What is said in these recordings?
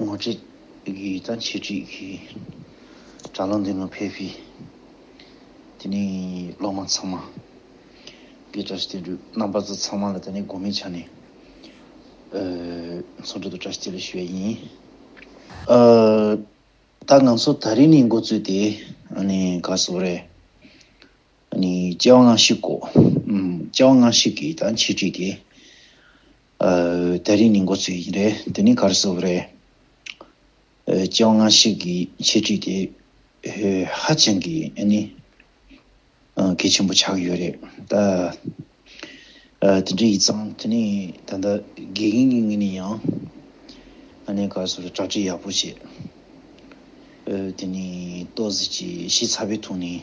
ངོ་སྤྲད་རྒྱུ་ཡིན་ཙང་འཆད་ཁྲིད་ཀྱི་དྲ་ལམ་དེ་ནང་ཕེབས་ཤིག་དེ་ནས་སློབ་མ་ཚང་མ་དགེ་བཀྲ་ཤིས་བསྟན་འགྲོའི་རྣམ་པ་ཚོ་ཚང་མ་ལ་ད་ནས་དགོང་མོའི་ཆ་ནས་མཚོ་འགྲམ་དུ་བཀྲ་ཤིས་བསྟན་ལོས་ཞུ་བ་ཡིན། ད་ང་ཚོ་ད་རེས་ནས་མགོ་བཙུགས་ཏེ་ག་སོ་རེད། སྐྱེ་བ་སྔ་ཕྱི་གོ། སྐྱེ་བ་སྔ་ཕྱི་གི་ད་འཆད་ཁྲིད་དེ། ད་རེས་ནི་འགོ་ཚུགས་ཡིན་རེད་དེ་ནི་ག་རེ་བཟོ་བ་རེད། སྤྱི་བ་ངར་ཤིག་གི་འཆད་ཁྲིད་དེ་ཧ་ཅང་གི་ནི་གལ་ཆེན་པོ་ཆགས་ཡོད་རེད་ད། དེ་འདྲ་ཡིན་ཙང་དེ་ནི་ད་ལྟ་དགེ་རྒན་གྱི་ངོས་ནས་ཡང་ཨ་ནེ་ག་རེ་བཟོ་རེད་གྲ་སྒྲིག་ཡག་པོ་བྱེད། དེ་ནི་ཏོག་གཟིགས་ཀྱི་གཞི་ཚ་བའི་ཐོག་ནས་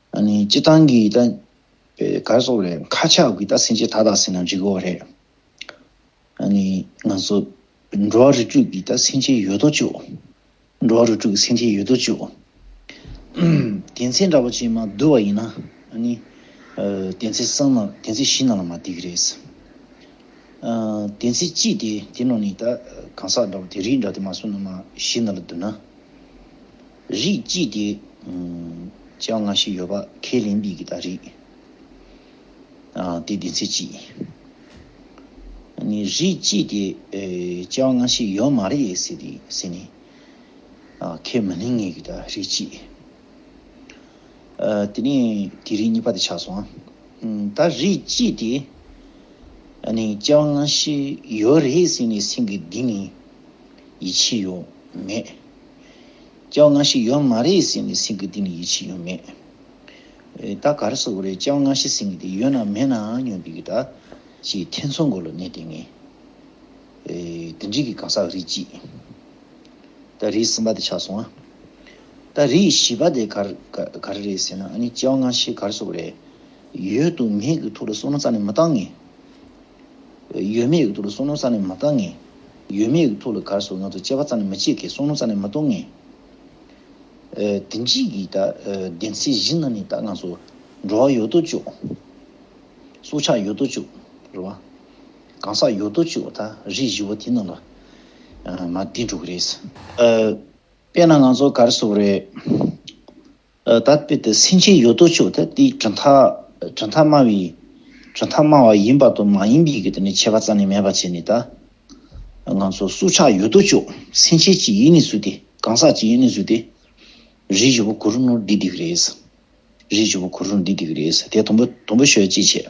སྤྱི་བཏང་གི་ད་པའི་གར་སོགས་ལས་ཁ་ཆགས་ཀྱི་ད་སེམས་ཅན་ཐ་དག་ཟིན་ན་འཇིག་གི་འོ་རེད། ང་ཚོ་འགྲོ་བ་རུ་དྲུག་གི་ད་སེམས་ཅན་ཡོད་དོ་ཅོག་འགྲོ་བ་རུ་དྲུག་གི་སེམས་ཅན་ཡོད་དོ་ཅོག་དེ་ཚེ་འདྲ་པོ་ཅན་མ་འདུལ་བ་ཡིན་ན། དེ་ཚེ་སང་ན་དེ་ཚེ་གཞི་ན་ལ་མ་བསྡིག་གི་རེད། དེ་ཚེ་ཅི་སྟེ་དེ་ནང་ནས་ད་གང་ཟག་འདྲ་པོ་དེ་རིགས་འདྲ་དེ་མ་སོང་ན་མ་གཞི་ན་ལ་འདུལ་ན། རིགས་གཅིག་དེ། ཅེས་པ་འགའ་ཞིག་ཡོད་པ་ཁས་ལེན་པའི་གདའ། རིགས། དེ་བདེན་ཚིག་གཅིག། རིགས་གཅིག་དེ། ཅེས་པ་འགའ་ཞིག་ཡོད་མ་རེད་ཟེར་ཏེ་ཟེར་ནས། ཁས་མི་ལེན་ངེས་ཀྱི་གདའ། རིགས་གཅིག། དེ་ནས་དེ་རིགས་གཉིས་པ་དེ་ཆགས་སོང། ད་རིགས་གཅིག་དེ། ཅེས་པ་འགའ་ཞིག་ཡོད་རེད་ཟེར་ནས་སེམས་ཀྱི་གདིང་ནས་ཡིད་ཆེས་ཡོད་མེད། བ་ང་ཞིག་ཡོད་མ་རེད་ཟེར་ནས་སེང་གེ་འདི་ནི་ཡིད་ཆེས་ཡོད་མེད། ད་གར་སོ་རེད་བྱ་བ་ང་ཞིག་སེང་གེ་འདི་ཡོད་ན་མེད་ནའང་ཉོ་འདི་གི་ད། ཅེས་ཐེ་ཚོམ་སྒོ་ལ་གནས་ཏེ་ངས། དེ་འདྲིས་ཀྱི་གང་ཟག་རིགས་གཅིག། ད་རིགས་གསུམ་པ་དེ་ཆགས་སོང་ང། ད་རིགས་བཞི་པ་དེ་གར་གར་རེད་ཟེར་ན་ཨ་ནི་བྱ་བ་ང་ཞིག་གར་སོ་རེད། ཡོད་དུ་མེད་ཀྱི་ཐུགས་ལ་སོ་ན་རྩ་ནས་མི་བཏང་ངེས། ཡོད་མེད་ཡིག་ཐོག་ལ་གསུང་ནོར་ཙམ་ལས་མ་བཏང་ངེས། ཡོད་མེད་ཡིག་ཐོག་ལ་གར་སོགས་ནོར་དང་བཅས་པ་ཙམ་ལས་མི་བྱེད་ཁེ་གསུང་ནོར་ཙམ་ལས་མི་གཏོང་ངེས། དེ་འཇིགས་ཀྱི་དག་བདེན་ཚད་གཞི་ན་ནས་ད་ང་ཚོ་འགྲོ་བ་ཡོད་དོ་ཅོག། སྲོག་ཆགས་ཡོད་དོ་ཅོག་རེད་བ། གང་ཟག་ཡོད་དོ་ཅོག་ད་རིགས་བཞི་བོ་དེ་རྣམས་ལ་མ་བསྟེན་འགྲོ་གི་རེད། དཔེར་ན་ང་ཚོ་གར་སོགས་རེད། ད་དཔེ་དེ་སེམས་ཅན་ཡོད་དོ་ཅོག་དེ་དེའི་གྲུབ་མཐའ་གྲུབ་མཐའ་སྨྲ་བའི་གྲུབ་མཐའ་སྨྲ་བ་ཡིན་པ་དང་མ་ཡིན་པའི་གི་དེ་ནི་ཁྱད་པར་རྩ་ནས་མེད་པར་བྱས་ནས་ད་ང་ཚོ་སྲོག་ཆགས་ཡོད་དོ་ཅོག་སེམས་ཅན་གྱི་ཡུལ་ནས་བཟུང་སྟེ་གང་ཟག་གི་ཡུལ་ནས་བཟུང་སྟེ། རིགས་བཞི་པོ་གུ་རུ་ནོར་འདི་འདི་གི་རེད། རིགས་བཞི་པོ་གུ་རུ་ནོར་འདི་འདི་གི་རེད་དེ་དང་པོ་དང་པོ་ཤོད་ཅེས་བྱས།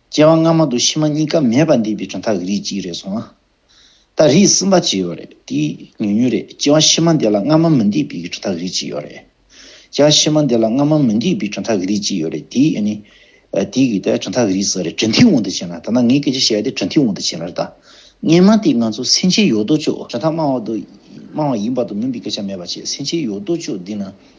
སྐྱེ་བ་སྔ་མ་དུ་ཕྱི་མ་གཉིས་ཀ་མེད་པ་འདས་པའི་གྲུབ་མཐའ་གི་རིགས་གཅིག་རེད་སོང་ང། ད་རིགས་གསུམ་པ་ཅིག་ཡོད་རེད་དེ་ཉུང་ཉུང་རེད་སྐྱེ་བ་ཕྱི་མ་འདས་ལ་སྔ་མ་མི་འདས་པའི་གྲུབ་མཐའ་གི་རིགས་གཅིག་ཡོད་རེད། སྐྱེ་བ་ཕྱི་མ་འདས་ལ་སྔ་མ་མི་འདས་པའི་གྲུབ་མཐའ་གི་རིགས་གཅིག་ཡོད་རེད་དེ་ནི། དེ་གི་ད་གྲུབ་མཐའ་གི་རིགས་ཟེར་རེད་གྲུབ་མཐའི་འོག་ཏུ་བྱས་ན་ད་ནངས་སྐད་ཆ་བཤད་དེ་གྲུབ་མཐའི་འོག་ཏུ་བྱས་ན་རེད་ད། ངས་སྨྲ་དེ་ང་ཚོ་སེམས་ཅན་ཡོད་དོ་ཅོག་གྲུབ་མཐའ་སྨྲ་བ་དུ་སྨྲ་བ་ཡིན་པ་དུ་མིན་པའི་སྐད་ཆ་མེད་པ་བྱས་སེམས་ཅན་ཡོད་དོ་ཅོག་འདི་ན་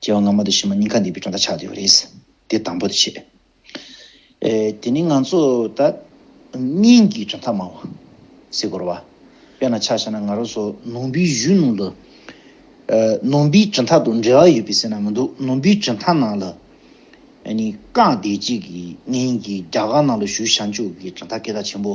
སྐྱེ་བ་སྔ་མ་དུ་ཕྱི་མ་གཉིས་ཀ་འདས་པའི་གྲངས་ཀ་ཆགས་ཡོད་པ་རེད། དེ་དང་པོ་དུ་བྱས། དེ་ནི་ང་ཚོ་ད་སྙིང་གི་གྲངས་ཐག་མང་བ། སའི་སྐོར་བ། དཔེར་ན་ཆ་བྱས་ན་ང་རོ་སོགས་ནོར་བུའི་གཞུང་ནང་དུ། ནོར་བུའི་གྲངས་ཐག་དང་འབྲེལ་བ་ཡོད་པའི་ཟེར་ན་མི་འདུག་ནོར་བུའི་གྲངས་ཐག་ནང་ལ། ནི་རྐང་བདེ་སྐྱིད་ཀྱི་སྙིང་གི་རྒྱ་གར་ནང་ལ་བཞུགས་བྱང་ཆུབ་ཀྱི་གྲངས་ཐག་སྐད་གྲགས་ཆེན་པོ།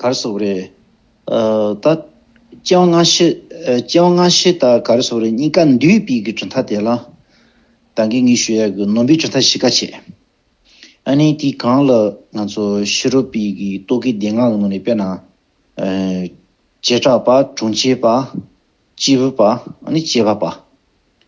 གར་སོགས་རེད། ད། སྤྱན་སྔ་ཤི། སྤྱན་སྔ་ཤི་དང་གར་སོགས་རེད་གཉིས་ཀ་འདུས་སྤོས་ཀྱི་གྲུབ་མཐའ་དེ་ལ། ད་གེ་ངེས་ཞུ་ཡག་གི་ནོར་འབུའི་གྲུབ་མཐའ་ཤི་ཀ་བྱས། ཨ་ནི་དེ་གང་ལ་ང་ཚོ་ཤི་རོ་པི་གི་རྟོག་གེ་སྡེ་ལྔ་ལ་ངོས་ནས་དཔེར་ན། བྱེ་བྲག་པ་གྲོང་ཁྱེར་པ། སྐྱེས་བུ་པ་ཨ་ནི་སྐྱེས་པ་པ།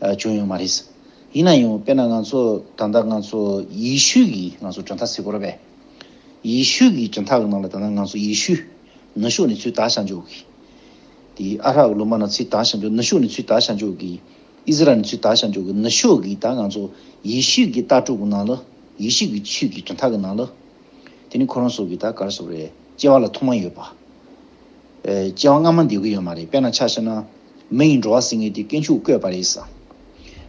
བྱུང་ཡོད་མ་རེད། ཡིན་ན་ཡང་དཔེར་ན་ང་ཚོ་ད་ལྟ་ང་ཚོ་ཡེ་ཤུ་ཡི་ང་ཚོ་གྲྭ་མཐའ་སེ་གོར་བས། ཡེ་ཤུ་ཡི་གྲྭ་མཐའ་གི་ནང་ལ་ད་ལྟ་ང་ཚོ་ཡེ་ཤུ་ནུ་ཞོ་ནི་ཚུལ་དག་བྱ་འཇུག་གི། དེ་ཨ་རག་གི་ལུ་མ་ན་ཚུལ་དག་བྱ་འཇུག་ནུ་ཞོ་ནི་ཚུལ་དག་བྱ་འཇུག་གི། ཨི་ཟི་རལ་ནི་ཚུལ་དག་བྱ་འཇུག་གི་ནུ་ཞོ་གི་ད་ང་ཚོ་ཡེ་ཤུ་ཀྱི་ལྟ་གྲུབ་གི་ནང་ལ་ཡེ་ཤུ་ཀྱི་ཆུས་ཀྱི་གྲྭ་མཐའ་གི་ནང་ལ། དེ་ནི་ཁོ་རང་སོ་གི་ད་གར་སོ་རེད་ཅེས་བ་ལ་ཐུགས་མ་ཡོད་པ། སྐྱེ་བ་སྔ་མ་འདི་གི་ཡོད་མ་རེད་དཔེར་ན་ཆ་བྱས་ན། མི་ཡི་འགྲོ་བ་ཟིན་ངེས་ཏེ་དཀོན་མཆོག་བསྐོས་པ་རེད་ས།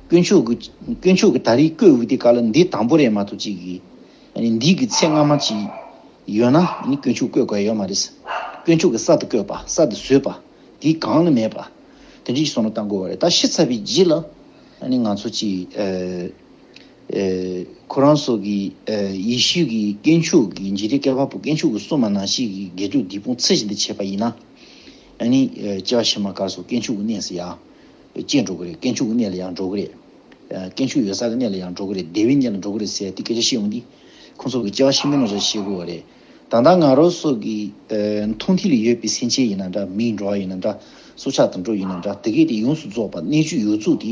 དཀོན་མཆོག་གི་དཀོན་མཆོག་གི་ད་རེས་བསྐོས་འོས་ཏེ་ག་ལ་འདི་དང་པོ་རེད་མ་ཐུག་ཅིག་གི། འདི་གི་ཚེ་སྔ་མ་ཅིག་ཡོད་ན་དཀོན་མཆོག་བསྐོས་དགོས་ཡོད་མ་རེད། དཀོན་མཆོག་གི་ས་དེ་བསྐོས་པ་ས་དེ་བཟོས་པ་དེའི་སྒང་ལ་མེད་པ། དེ་འདྲའི་བསོད་ནམས་བཏང་དགོས་བ་རེད་ད་ཤི་ཚར་བའི་རྗེས་ལ་ང་ཚོ་ཅིག། ཁོ་རང་སོགས་ཀྱི་ཡེ་ཤུ་ཀྱི་སྐྱེས་མཆོག་གི་མཇེ་རི་ཀའི་བ་སྤུ་སྐྱེས་མཆོག་གི་སྲུང་མ་ནང་བཞིན་གྱི་དགེ་ཕྲུག་འདི་ཕོངས་ཚེ་བཞིན་དུ་བྱེད་པ་ཡིན་ན། ཨཱ་ནི། སྐྱེ་བ་ཕྱི་མ་གར་སོགས་སྐྱེས་མཆོག་གི་གནས་སུ་ཡང། སྐྱེས་འགྲོ་གི་རེད་སྐྱེས་མཆོག་གི་གནས་ལ་ཡང་འགྲོ་གི་རེད། སྐྱེས་མཆོག་ཡོད་ས་གི་གནས་ལ་ཡང་འགྲོ་གི་རེད་བདེ་བའི་གནས་ལ་འགྲོ་གི་རེད་ཟེར་ཡ་དེ་སྐད་ཆ་བཤད་འོང་དུས། ཁོང་ཚོ་གི་སྐྱེ་བ་ཕྱི་མའི་ནོར་འཆར་ཤེས་དགོས་བ་རེད། ད་ལྟ་ང་རོ་སོགས་ཀྱི་མཐོང་མཐིལ་ལ་ཡོད་པའི་སེམས་ཅན་ཡིན་ན་འདྲ་མིའི་འགྲོ་བ་ཡིན་ན་འདྲ་སྲོག་ཆགས་དང་འགྲོ་ཡིན་ན་འདྲ་དེ་གས་དེ་ཡོངས་སུ་རྫོགས་པ་གནས་བཅུ་ཡོད་ཚུལ་དེ་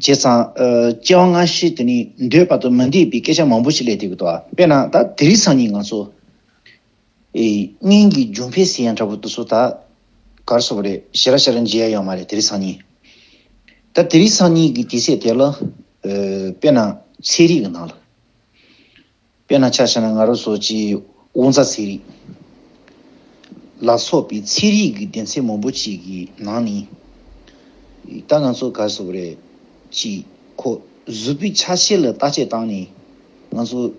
བྱས་ཙང། སྐྱེ་བ་སྔ་ཕྱི་དེ་ནི་འདོད་པ་དང་མི་འདོད་པའི་སྐད་ཆ་མང་པོ་ཞིག་ལས་དེ་གོ་ལྟ་བ་དཔེར་ན་ད་དེ་རིགས་སང་ཉིན་ང་ཚོ། སྙིང་གི་རྒྱུ་འཕེལ་ཟེར་ཡ་འདྲ་པོ་འདུག་ཚོ་ད་གར་སོང་བ་རེད་ཞེ་ར་ཞེ་ར་མཇལ་ཡ་ཡོད་མ་རེད་དེ་རིགས་སང་ཉིན། ད་དེ་རིགས་སང་ཉིན་གྱི་དེ་ཚད་དེ་ལ། དཔེར་ན་ཚེ་རིག་གི་ནང་ལ། དཔེར་ན་ཆ་ཤས་ན་ང་རོ་སོགས་ཀྱི་དབུགས་འཛག་ཚད་རིགས་ལ་སོགས་པའི་ཚད་རིགས་ཀྱི་ལྡན་ཚད་མང་པོ་ཅིག་གི་ནང་ནས། ད་ང་ཚོ་ག་སོགས་རེད་ཅེས་ཁོག་གཟུགས་པོའི་ཆ་ཤས་ལ་བརྟག་དཔྱད་བཏང་ནས་ང་ཚོ་བྱ་བ་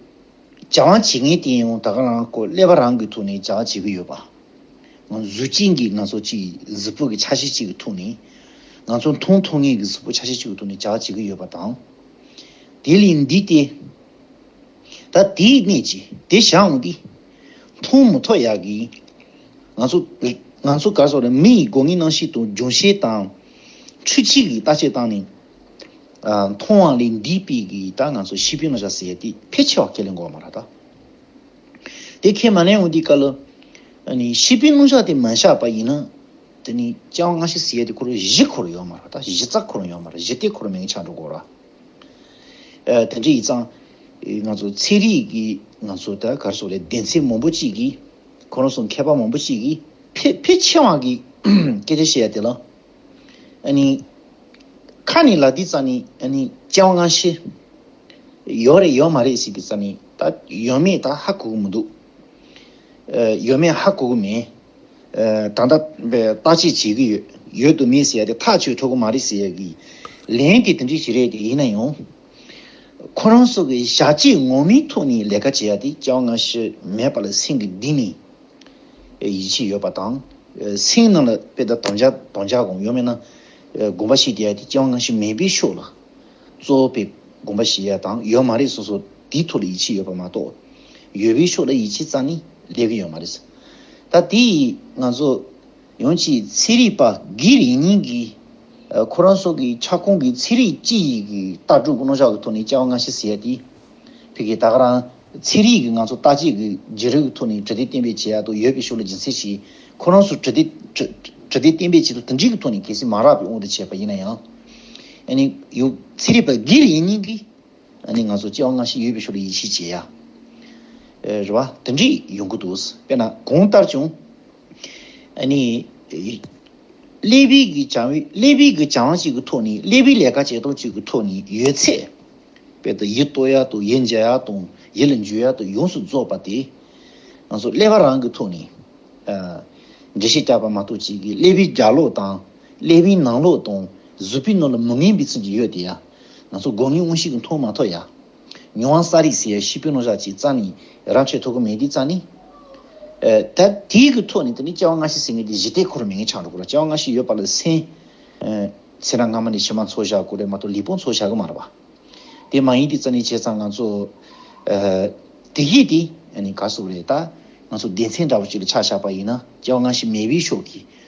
བྱེད་མཁན་དེ་ཡང་ད་ག་རང་སྐོར་ཀླད་པ་རང་གི་ཐུག་ནས་བྱ་བ་བྱེད་ཀྱི་ཡོད་པ། ང་གཟུགས་ཅན་གྱི་ང་ཚོ་གཅིག་གཟུགས་པོ་གི་ཆ་ཤས་གཅིག་གི་ཐུག་ནས་ང་ཚོ་མཐོང་ཐོ་ངེས་ཀྱི་གཟུགས་པོ་ཆ་ཤས་གཅིག་གི་ཐུག་ནས་བྱ་བ་བྱེད་ཀྱི་ཡོད་པ་དང། དེ་ལས་འདས་ཏེ། ད་དེའི་གནད་ཀྱིས་དེ་བཞག་འོང་སྟེ། མཐོང་མུ་ཐོག་ཡག་གི། ང་ཚོ། ང་ཚོ་གར་སོང་རེད་མི་ཡི་སྒོ་ངའི་སྣང་བྱེད་དང་འབྱུང་བྱེད་དང། འཕྲུལ་ཆས་ཀྱིས་བརྟག་དཔྱད་བཏང་ནས། མཐོང་བ་ལས་འདིའི་དཔེ་གིས་ད་ང་ཚོ་ཤི་འཕོས་མ་བཞག་ཟེར་ཏེ་ཕལ་ཆེ་བ་ཁས་ལེན་དགོས་བ་མ་རེད་ད། དེ་ཁས་མ་ལེན་འོང་དུས་ཀ་ལ། ཤི་འཕོས་རླུང་ཤ་དེ་མ་བཞག་པ་ཡིན་ན། དེ་ནི་སྤྱང་བ་སྔ་ཕྱི་ཟེར་ཡས་དེ་ཁོར་བཞི་འཁོར་ཡོད་མ་རེད་ད་བཞི་རྩ་འཁོར་ཡོད་མ་རེད་བཞི་སྟེ་འཁོར་མེད་ཀྱི་ཆ་འགྲོ་དགོས་ར། དེ་འདྲ་ཡིག་ཚང། ང་ཚོ་ཚེ་རིང་གིས་ང་ཚོ་ད་གར་སོག་ལེ་བདེན་ཚད་མང་པོ་གཅིག་གིས། ཁོ་རང་སོག་མཁས་པ་མང་པོ་གཅིག་གིས་ཕལ་ཕལ་ཆེ་བ་གིས་སྐད་ཆ་བཤད་ཡ་དེ་ལ། ཨ་ནི། ཁ་ནི་ལ་འདི་རྩ་ནི་ཨ་ནི་སྤྱན་བ་ང་ཤེས། ཡོད་རེད་ཡོད་མ་རེད་ཟེར་གི་རྩ་ནི་ད་ཡོད་མེད་ད་ཧ་གོ་གི་མི་འདུག། ཡོད་མེད་ཧ་གོ་གི་མིན། ད་ལྟ་བརྟག་དཔྱད་བྱེད་ཀྱི་ཡོད། ཡོད་དུ་མེད་ཟེར་ཡ་དེ་ཐག་ཆོད་ཐུབ་ཀྱི་མ་རེད་ཟེར་ཡ་གི། ལན་དེ་དེ་འདྲའི་ཞིག་རེད་དེ་ཡིན་ན་ཡང། ཁོ་རང་སོགས་ཀྱི་ཞྭ་གཅིག་ངོ་མའི་ཐུགས་ནས་ལས་ཀ་བྱེད་ཡ་དེ་ཅང་སྔ་ཕྱི་མེད་པ་ལ་སེམས་ཀྱི་གདིང་ནས་ཡིད་ཆེས་ཡོད་པ་དང། སེམས་ནང་ལ་དཔེ་ལྟ་དང་བྱ་དང་བྱ་གོམས་ཡོད་མེད་ན་དགོངས་པ་བཞེས་བསྡད་ཡ་དེ་ཅང་སྔ་ཕྱི་མེད་པའི་ཕྱོགས་ལ། གཙོ་བོ་པའི་དགོངས་པ་བཞི་ཡོད་དང་ཡོད་མ་རེད་སོ་སོ་དེའི་ཐོག་ལ་ཡིད་ཆེས་ཡོད་པ་མ་གཏོགས། ཡོད་པའི་ཕྱོགས་ལ་ཡིད་ཆེས་ཙང་ནི་ལས་ཀྱི་ཡོད་མ་རེད། ད་དེ་ཡིས་ང་ཚོ་ཡོངས་ཀྱིས་ཚེ་རིག་པ་སྒེར་ཡིག་རྙིང་གི་ཁོ་རང་སོགས་ཀྱི་ཁྱབ་ཁོངས་ཀྱི་ཚེ་རིག་སྤྱི་ཡི་གི་ལྟ་གྲུབ་རྣོ་ལྕགས་ཀྱི་ཐོག་ནས་བཅའ་བ་སྔ་ཕྱི་ཟེར་ཡ་དེ། ཕི་གི་ད་ག་རང་ཚེ་རིག་གི་ང་ཚོ་ལྟ་བྱེད་ཀྱི་རྗེ་རིག་གི་ཐོག་ནས་དྲི་དེ་གཏན་འབེབས་བྱེད་ཡ་དོ་ཡོད་པའི་ཕྱོགས་ལ་སྦྱིན་སྲེག་བྱས་ཁོ་རང་སུ་དྲི་དེ་དྲི་དེ་གཏན་འབེབས་བྱེད་དོ་དེ་འདྲིག་གི་ཐོག་ནས་གལ་སྲིད་མ་རག་པའི་དབང་དུ་བྱས་པ་ཡིན་ན་ཡང། ཚེ་རིལ་པ་གིར་ཡིན་སྙིང་གིས། ང་ཚོ་སྐྱེ་བ་སྔ་ཕྱི་ཡོད་པའི་ཤུགས་ལ་ཡིད་ཆེས་བྱེད་ཡ། རེད་བ། དེ་འདྲས་ཡོང་གི་འདུག་དཔེར་ན་གོང་ལྟར་བྱུང། ཀླད་པའི་གི་བྱ་བའི་ཀླད་པའི་གི་བྱ་བ་གཅིག་གི་ཐོག་ནས་ཀླད་པའི་ལས་ཀ་བྱེད་སྟངས་གཅིག་གི་ཐོག་ནས་ཡོད་ཚད། དཔེར་ད་ཡིད་གཏོད་ཡ་དང་ཡིད་འཇལ་ཡ་དང་ཡིད་ལ་འཇུ་ཡ་དང་ཡོངས་སུ་རྫོགས་པ་དེ། ང་ཚོ་ཀླད་པ་རང་གི་ཐོག་ནས། འགྲེལ་བཤད་རྒྱག་པ་མ་གཏོགས་གཅིག་གིས་ཀླད་པའི་རྒྱ་ལོག་དང། ཀླད་པའི་ནང་ལོགས་དང་གཟུགས་པོའི་ནང་ལ་མི་ངན་པའི་ཚུལ་གྱིས་ཡོད་དེ། ང་ཚོ་དགོས་ངེས་དངོས་ཤིག་གི་མཐོང་མ་ཐོག་ཡ། ཉོན་དབང་ས་རིས་ཟེར་ཤི་པོའི་ནོར་ཞག་ཅིག་རྩ་ནས་རབ་ཆད་ཐོ་གུ་མེད་དེ་རྩ་ནས། ད་དེའི་གི་ཐོག་ནས་ད་ནི་སྐྱེ་བ་སྔ་ཕྱི་ཟེར་ངེས་དེ་གཞི་རྟེན་འཁོར་མེད་ངེས་ཆགས་འགྲོ་དགོས་ལ་སྐྱེ་བ་སྔ་ཕྱི་ཡོད་པ་ལ་སེམས། སེམས་རང་སྔ་མ་ནས་ཕྱི་མ་འཚོ་བཞག་དགོས་རེད་མ་གཏོགས་ལུས་པོ་འཚོ་བཞག་གི་མ་རེད་པ། དེ་མ་ཡིན་དེ་རྩ་ནས་བྱས་ཙང་ང་ཚོ། དེ་ཡིས་དེ་ནི་ག་སོགས་རེད་ད། ང་ཚོ་སྡེ་ཚན་འདྲ་བོ་ཅིག་ལ་ཆགས་བཞག་པ་ཡིན་ན་སྐྱེ་བ་སྔ་ཕྱི་མེད་པའི་ཕྱོགས་ཀྱི་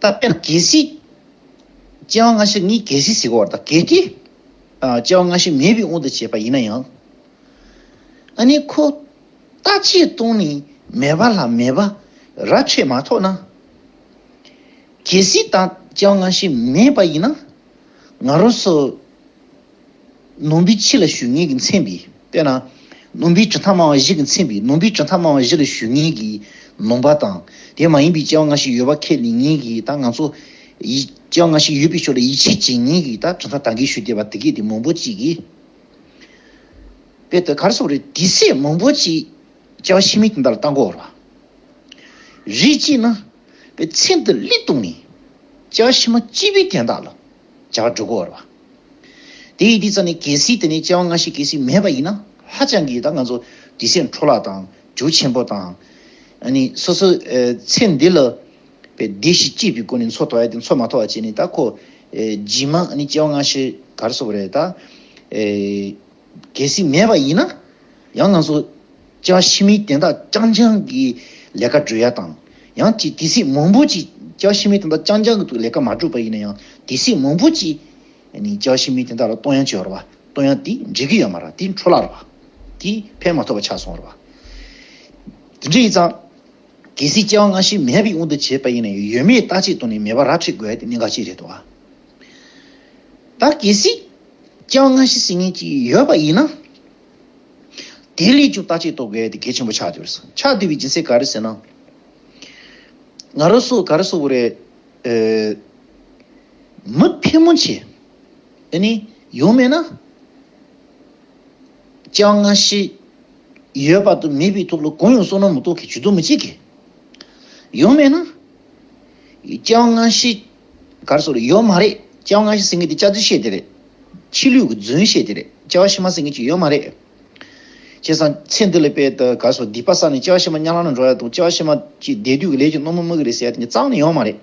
རྟ་དཔྱ་ན་གེ་སི། སྐྱེ་བ་སྔ་ཕྱིར་ནི་གེ་སི་ཟིག་གོ་བར་དང་གེ་ཏི། སྐྱེ་བ་སྔ་ཕྱི་མེད་པའི་དབང་དུ་བྱས་པ་ཡིན་ན་ཡང། ཨ་ནི་ཁོ། རྟ་ཕྱིའི་སྟོང་ནི་མེད་པ་ལ་མེད་པ་ར་ཆོད་མ་ཐོགས་ན། གེ་སི་དང་སྐྱེ་བ་སྔ་ཕྱི་མེད་པ་ཡིན་ན། ང་རོ་སོ། ནོངས་པའི་ཕྱི་ལ་ཞུ་ངེས་ཀྱི་མཚན་བི་དཔེར་ན། ནོངས་པའི་གྲུ་མཐའ་མང་བ་བཞི་གི་མཚན་བི་ནོངས་པའི་གྲུ་མཐའ་མང་བ་བཞི་ལ་ཞུ་ངེས་ཀྱི་ནོངས་པ་དང་དེ་མ་ཡིན་པའི་སྐྱེ་བ་འགའ་ཞིག་ཡོད་པ་ཁས་ལེན་ངེས་ཀྱི་དང་ང་ཚོ། སྐྱེ་བ་འགའ་ཞིག་ཡོད་པའི་ཕྱོགས་ལ་ཡིད་ཆེས་བྱེད་ངེས་ཀྱི་དང་གྲུ་མཐའ་དང་གིས་ཞུ་བདེ་བ་དེ་གས་དེ་མང་པོ་ཅིག་གིས། དཔེ་དེ་གར་སོང་རེད་དེ་སྲས་མང་པོ་ཅིག་སྐྱེ་བ་ཕྱི་མའི་དེ་འདྲ་ལ་བལྟ་འགོ་བར་བ་རེད་ཅེས་ན། དཔེ་ཚེ་འདི་ལི་སྟུང་ནས་སྐྱེ་བ་ཕྱི་མ་སྐྱིད་པའི་དན་རྟགས་ལ། བྱ་བ་འགྲུབ་གོ་བར་བ། དེ་ཡི་དེའི་རྩ་ནི་གལ་སྲིད་དེ་ནི་སྐྱེ་བ་སྔ་ཕྱི་གལ་སྲིད་མེད་པ་ཡིན་ན་ཧ་ཅང་གི་ད་ང་ཚོ་དུས་ཚོད་འཕྲོ་བརླག་དང་འཇུ་ཆེན་པོ་དང། ནི་སོ་སོའི་ཚེ་འདི་ལ་བའི་བདེ་གཤེགས་སྐྱེས་པའི་སྒོ་ནས་འཚོ་དོགས་ཡ་དེ་འཚོ་མ་དོགས་བ་བྱས་ནས་ད་ཁོ། རྗེས་མ་ནི་སྐྱེ་བ་སྔ་ཕྱི་གར་སོགས་རེད་ད། གལ་སྲིད་མེད་པ་ཡིན་ན་ཡང་ང་ཚོ་བཅའ་ཤི་མིའི་དན་རྟགས་རྐྱང་རྐྱང་གི་ལས་ཀ་སྒྲུབ་ཡ་དང་ཡང་ཅིག་དེ་སྲིད་མང་པོ་ཅིག་བཅའ་ཤི་མིའི་དན་རྟགས་རྐྱང་རྐྱང་གི་ལས་ཀ་མ་སྒྲུབ་པ་ཡིན་ན་ཡང་དེ་སྲིད་མང་པོ་ཅིག་བཅའ་ཤི་མིའི་དན་རྟགས་ལ་གཏོང་ཡ་བྱོས་ར་བ་གཏོང་ཡ་དེ་འགྲིག་གི་ཡོད་མ་ར་དེ་འཕྲོ་བརླག་ར་བ་དེ་ཕན་མ་ཐོག་པ་ཆགས་སོང་ར་བ། དེ་འདྲ་ཡིན་ཙང་གལ་སྲིད་བཅའ་བ་སྔ་ཕྱི་མེད་པའི་དབང་དུ་བྱས་པ་ཡིན་ན་ཡང་ཡོད་མེད་བརྟག་དཔྱད་གཏོང་ནས་མེད་པ་ར་འཕྲི་དགོས་ཡ་དེ་གནད་འགག་ཅིག་རེད་དོ། ད་གལ་སྲིད། ཅང་སྔ་ཕྱི་ཟིན་ངེས་ཀྱི་ཡོད་པ་ཡིན་ན། དེའི་ལས་ཀྱང་ལྟ་ཅི་ཏོག་གེ་དེ་གལ་ཆེན་པོ་ཆགས་འདུག་ཆགས་འདུག་པའི་སྦྱིན་སྲེག་ག་རེ་ཟེར་ན། ང་རོ་སོགས་ག་རེ་སོགས་པོ་རེད། མི་ཕལ་མོ་ཆེ་འདི་ནས་ཡོང་མེད་ན། ཅང་སྔ་ཕྱི་ཡོད་པ་དང་མེད་པའི་ཐོག་ལ་གང་ཡང་བསོད་ནམས་མི་ཏོག་གེ་ཇུས་གཏོགས་མི་བྱེད་གི། ཡོང་མེད་ན། ཅང་སྔ་ཕྱི། གར་སོགས་རེད་ཡོད་མ་རེད་བཅའ་བ་སྔ་ཕྱི་ཟེར་མཁན་དེ་བཅའ་རྫུན་བཤད་དེ་རེད། ཕྱི་ལུས་ཀྱི་རྫུན་བཤད་དེ་རེད་བཅའ་བ་ཕྱི་མ་ཟེར་མཁན་གཅིག་ཡོད་མ་རེད། བྱས་ཙང་ཚེ་འདི་ལས་དཔལ་དུ་གར་སོགས་སྡིག་པ་བསགས་ནས་བཅའ་བ་ཕྱི་མ་གཉའ་ལམ་ལ་འགྲོ་ཡ་དང་བཅའ་བ་ཕྱི་མ་ཀྱི་འདས་དུས་ཀྱི་ལས་ཀྱི་སྣོན་མོ་སྨོས་ཀྱི་རེད་ཟེར་ཡ་དེ་གཉིས་གཙང་ནི་ཡོད་མ་རེད།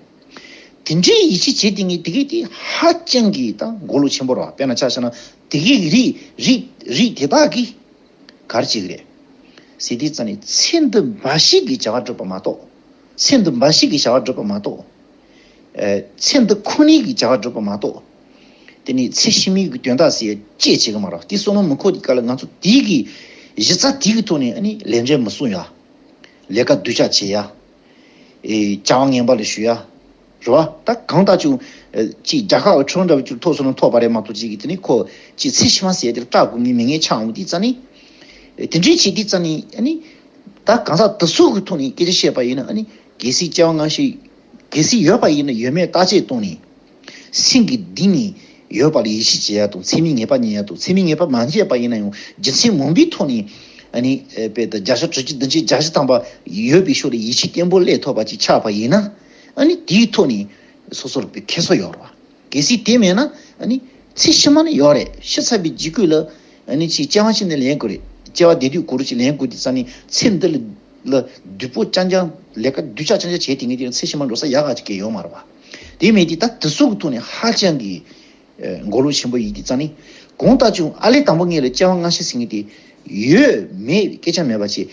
དེ་འདྲའི་ཡིད་ཆེས་བྱེད་དེ་གཉིས་དེ་གས་དེ་ཧ་ཅང་གི་ད་མགོ་ལོག་ཆེན་པོ་ར་བ་དཔེར་ན་ཆ་ཤ་ན་དེ་གས་གི་རིགས་རིགས་རིགས་དེ་དག་གིས་གར་བྱེད་གི་རེད། ཟེར་དེ་ཙང་ནི་ཚེ་འདི་འབའ་ཞིག་གི་བྱ་བ་སྒྲུབ་པ་མ་གཏོགས། ཚེ་འདི་འབའ་ཞིག་གི་བྱ་བ་སྒྲུབ་པ་མ་གཏོགས། ཚེ་འདི་ཁོ་ནའི་གི་བྱ་བ་སྒྲུབ་པ་མ་གཏོགས། དེ་ནས་ཚེ་ཕྱི་མའི་གི་དོན་དག་སེ་བཅད་བྱེད་གི་མ་རག་དེ་སོ་ན་མི་ཁོ་དེ་ག་ལ་ང་ཚོ་དེའི་གི་གཞི་རྩ་དེའི་གི་ཐོག་ནས་ལས་འབྲས་མི་སྲུང་ཡ། ལས་ཀ་གདུལ་བྱ་བྱེད་ཡ། བྱ་བ་ངན་པ་ལ་ཞུ་ཡ། རེད་བ། ད་གང་ལྟ་ཅུང་གཅིག་རྒྱ་ཁག་ཁྲོན་འདྲ་བོ་ཅུར་ཐོག་སོ་ན་ཐོག་པ་རེད་མ་གཏོགས་གཅིག་གི་དེ་ནས་ཁོ་གཅིག་ཚེ་ཕྱི་མ་ཟེར་དེར་སྐྲག་དགོས་ངེས་མི་ངེས་ཆགས་འོང་དེའི་རྩ་ནས། དེ་འདྲའི་བྱེད་དེའི་རྩ་ནས། ད་གང་ཟག་དེ་ཚོའི་གི་ཐོག་ནས་སྐད་ཆ་བཤད་པ་ཡིན་ན། གལ་སྲིད་སྐྱེ་བ་སྔ་ཕྱི། གལ་སྲིད་ཡོད་པ་ཡིན་ན་ཡོད་མེད་བརྟག་དཔྱད་གཏོང་ནས། སེམས་ཀྱི་སྡིག་ནི་ཡོད་པ་ལ་ཡིད་ཆེས་བྱེད་ཡག་དང་ཚད་མའི་ངེས་པ་རྙེད་ཡག་དང་ཚད་མའི་ངེས་པ་མ་འཇལ་བ་ཡིན་ན་ཡང་རྒྱུ་མཚན་མང་པོའི་ཐོག་ནས། བརྒྱ་ཆ་དྲུག་ཅུ་བདུན་ཅུ་གྱ་བཞི་ཐམ་པ་ཡོད་པའི་ཕྱོགས་ལ་ཡིད་ཆེས་བརྟན་པོ་སླད་ཐོབ་པ་ཅིག་ཆགས་པ་ཡིན་ན། ཨ་ནི་དེའི་ཐོག་ནས་སོ་སོར་ཁེ་གསོ་ཡོང་རོགས། གལ་སྲིད་དེ་མེད་ན། ཚེ་ཕྱི་མ་ནི་ཡོད་རེད་ཤི་ཚར་བའི་འཇིགས་སྐུལ་ལ། སྐྱེ་བ་ཕྱི་ནས་ལེན་དགོས་རེད་སྐྱེ་བ་འདས་དུས་གུ་རུ་གྱིས་ལེན་དགོས་དེ་ཙམ་ནི་ཚེ་འདི་ལ། བདུད་པོ་ཅང་ཅང་ལས་ཀ་བདུད་ཅག་ཅང་ཅང་བྱས་དེ་ངས་དེ་རིང་ཚེ་ཕྱི་མར་འགྲོ་ས་ཡག་ག་གེ་ཡོད་མ་རེད་བ། དེ་མེད་དེ་ད་དུ་སོག་གི་ཐོག་ནས་ཧ་ཅང་གི། མགོ་ལོག་ཆེན་པོ་ཡིན་དེ་ཙམ་ནི། གང་ལྟར་བྱུང་ཨ་ལས་དང་པོ་ངས་ལ་སྐྱེ་བ་སྔ་ཕྱི་ཟིན་ངེས་ཏེ། ཡོད་མེད་སྐད་ཆ་མེད་པ་བྱས།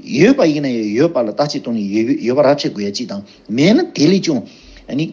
ཡོད་པ་ཡིན་ན་ཡང་ཡོད་པ་ལ་བརྟག་དཔྱད་གཏོང་ནས་ཡོད་པ་རབ་བྱེད་དགོས་ཡ་གཅིག་དང་མེད་ན་དེ་ལས་ཀྱང།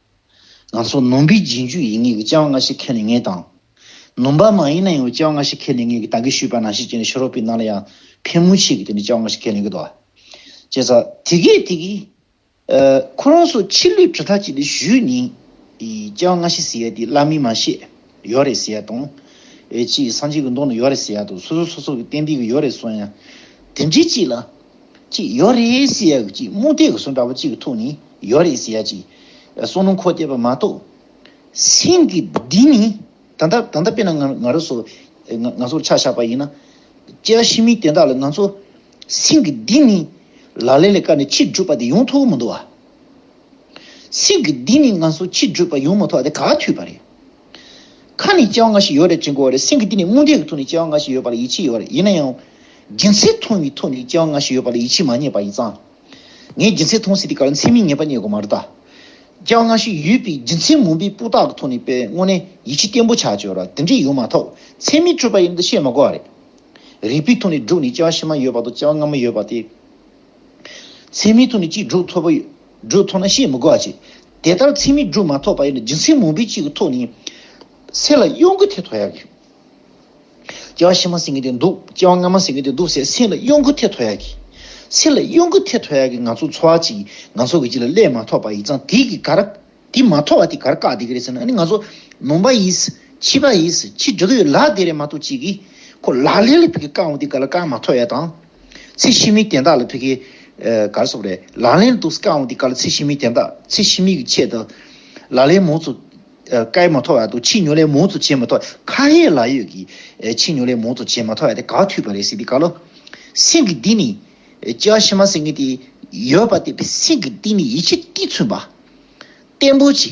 ང་ཚོ་ནོམ་པའི་རྗེས་འཇུག་ཡིན་ངེས་ཀྱི་སྐྱེ་བ་སྔ་ཕྱི་ཁེལ་ནས་ངས་དང། ནོམ་པ་མ་ཡིན་ན་ཡང་སྐྱེ་བ་སྔ་ཕྱི་ཁེལ་ནས་ངས་ཀྱི་ད་གིས་ཞུས་པ་ན་ཤི་རྗེས་ནས་ཕྱི་རོལ་པའི་ནང་ལ་ཡང་ཕན་མོ་ཆེ་གི་དེ་ནི་སྐྱེ་བ་སྔ་ཕྱི་ཁེལ་ནས་གི་དོ། ཅེས་སོ། དེ་གས་དེ་གིས། ཁོ་རང་སོ་ཕྱི་ལུས་གྲུ་ཐག་ཅིག་ལས་བཞུད་ནས། སྐྱེ་བ་སྔ་ཕྱི་ཟེར་ཡ་དེ་བླ་མའི་མ་ཤེས། ཡོད་རེད་ཟེར་ཡ་དང། ཅེས་སངས་རྒྱས་ཀྱི་མདོ་ན་ཡོད་རེད་ཟེར་ཡ་དང་སོ་སོ་སོ་སོ་གི་གཏན་བདེ་གི་ཡོད་རེད་གསུང་ཡ། དེ་འདྲའི་ཅིག་ལ། གཅིག་ཡོ་རེ་སི་ཡ་གི་གཅིག་རྨུ་རྟའི་གི་སོ་འདྲ་བོ་གཅིག་གི་ཐུགས་ནི་ཡོ་རེ་སི་ཡ་གཅིག་སོ་ནུ་འཁོར་བལྟས་པ་མ་གཏོགས། སེང་གེ་འདི་ནི་ད་ལྟ་ད་ལྟ་དཔེར་ན་ང་རོ་སོ་ང་ཚོར་ཆ་བཞག་པ་ཡིན་ན། དཔྱད་གཞི་མི་དེ་དག་ལ་ང་ཚོ་སེང་གེ་འདི་ནི་ལ་ལས་ལས་བཀར་ནས་ཕྱིར་བསྒྲུབས་པ་དེ་ཡོང་ཐུབ་མི་འདུག་བ། སེང་གེ་འདི་ནི་ང་ཚོ་ཕྱིར་བསྒྲུབས་པ་ཡོང་མི་ཐུབ་བ་དེ་ག་དུས་བ་རེད། ཁ་ནས་སྐྱེ་བ་ལྔ་ཞིག་ཡོད་རེད་ཅེས་གོ་བ་རེད་སེམས་ཀྱི་སྟེང་ནས་རྨོངས་དད་ཀྱི་ཐོག་ནས་སྐྱེ་བ་ལྔ་ཞིག་ཡོད་པ་ལ་ཡིད་ཆེས་ཡོད་རེད་ཡིན་ན་ཡང། རྒྱུ་མཚན་མཐོང་བའི་ཐོག་ནས་སྐྱེ་བ་ལྔ་ཞིག་ཡོད་པ་ལ་ཡིད་ཆེས་མ་རྙེད་པ་ཡིན་ཙང། ངས་རྒྱུ་མཚན་མཐོང་ཟིན་དེ་ག་རེ་མཚན་མིན་ངེས་པ་རྙེད་དགོས་མ་རེད་ད། སྐྱེ་བ་ལྔ་ཞིག་ཡོད་པའི་རྒྱུ་མཚན་མུན་པའི་སྤུ་དག་གི་ཐོག་ནས་པའི་སྔོན་ནས་ཡིད་ཆེས་བརྟན་པོ་བྱ་ཅོལ་ར་དེ་འདྲས་ཡོད་མ་ཐག་མཚན་མིན་སྤྲོས་པ་ཡིན་ད་བཤད་མ་གོ་བ་རེད། རིག་པའི་ཐོག་ནས་བསྒྲུགས་ནས་སྐྱེ་བ་ཕྱི་མ་ཡོད་པ་དང་སྐྱེ་བ་སྔ་མ་ཡོད་པ་དེ། མཚན་མི་ཐོག་ནས་གཅིག་སྒྲུབ་ཐོབ་པ་ཡོད། སྒྲུབ་ཐོག་ན་བཤད་མི་དགོས་པ་བྱེད། དེ་ལྟར་མཚན་མི་སྒྲུབ་མ་ཐོབ་པ་ཡོད་ན་སྦྱིན་སྲེག་མུན་པའི་དཔྱིད་ཀྱི་ཐོག་ནས། སྲེག་ལ་གཡོ་འགུལ་ཐེད་ཐོག་ཡར་གྱིས། སྐྱེ་བ་བཞི་མ་ཟིན་གྱི་དེ་འདུག་སྐྱེ་བ་ལྔ་མ་ཟིན་གྱི་དེ་འདུག་ཟེར་སྲེག་ལ་གཡོ་འགུལ་ཐེད་ཐོག་ཡར་གྱིས། སྲེག་ལ་གཡོ་འགུལ་ཐེད་ཐོག་ཡར་གྱིས་ང་ཚོ་འཚོ་བ་གཅིག་ཡིན་ང་ཚོ་གི་གཅིག་ལ་སླད་མ་ཐོག་པ་ཡིས་ཙང་དེ་གི་གར། དེ་མ་ཐོག་བ་དེ་གར་བཀག་དེ་གི་རེད་ཟེར་ན་ནི་ང་ཚོ་ནོངས་པ་ཡིས། འཆི་བ་ཡིས་འཆི་འགྲོ་གི་ཡོད་ལགས་དེ་རེད་མ་གཏོགས་གཅིག་གིས། ཁོ་ལག་ལེན་ལ་ཕུལ་གི་བཀག་འོང་དེ་ག་ལ་བཀག་མ་ཐོག་ཡ་དང། ཚེ་ཕྱི་མའི་དན་རྟགས་ལ་ཐུག་གི། གར་སོགས་རེད། ལག་ལེན་དུ་བཀའ་འོང་དེ་ག་ལ་ཚེ་ཕྱི་མའི་དན་རྟགས་ཚེ་ཕྱི་མའི་གི་ཆེད་དུ། ལག་ལེན་མོ་ཚོ། བཀའི་མ་ཐོག་ཡག་འདུག་ཕྱི་ཉོ་ལས་མོ་ཚོ་བྱེད་མ་ཐོག་ཁ་ཧེ་ལ་ཡོད་གི། ཕྱི་ཉོ་ལས་མོ་ཚོ་བྱེད་མ་ཐོག་ཡག་དེ་ག་འཐུས་པ་རེད་སེང་གི་ག་ལོ། སེང་གི་འདི་ནི། ཅི་བ་ཤི་མ་སེང་གི་དེ། ཡོད་པ་དེ་བས་སེང་གི་འདི་ནི་ཡིད་ཆེས་ཏི་ཚུན་པ། བརྟན་པོ་ཆེ།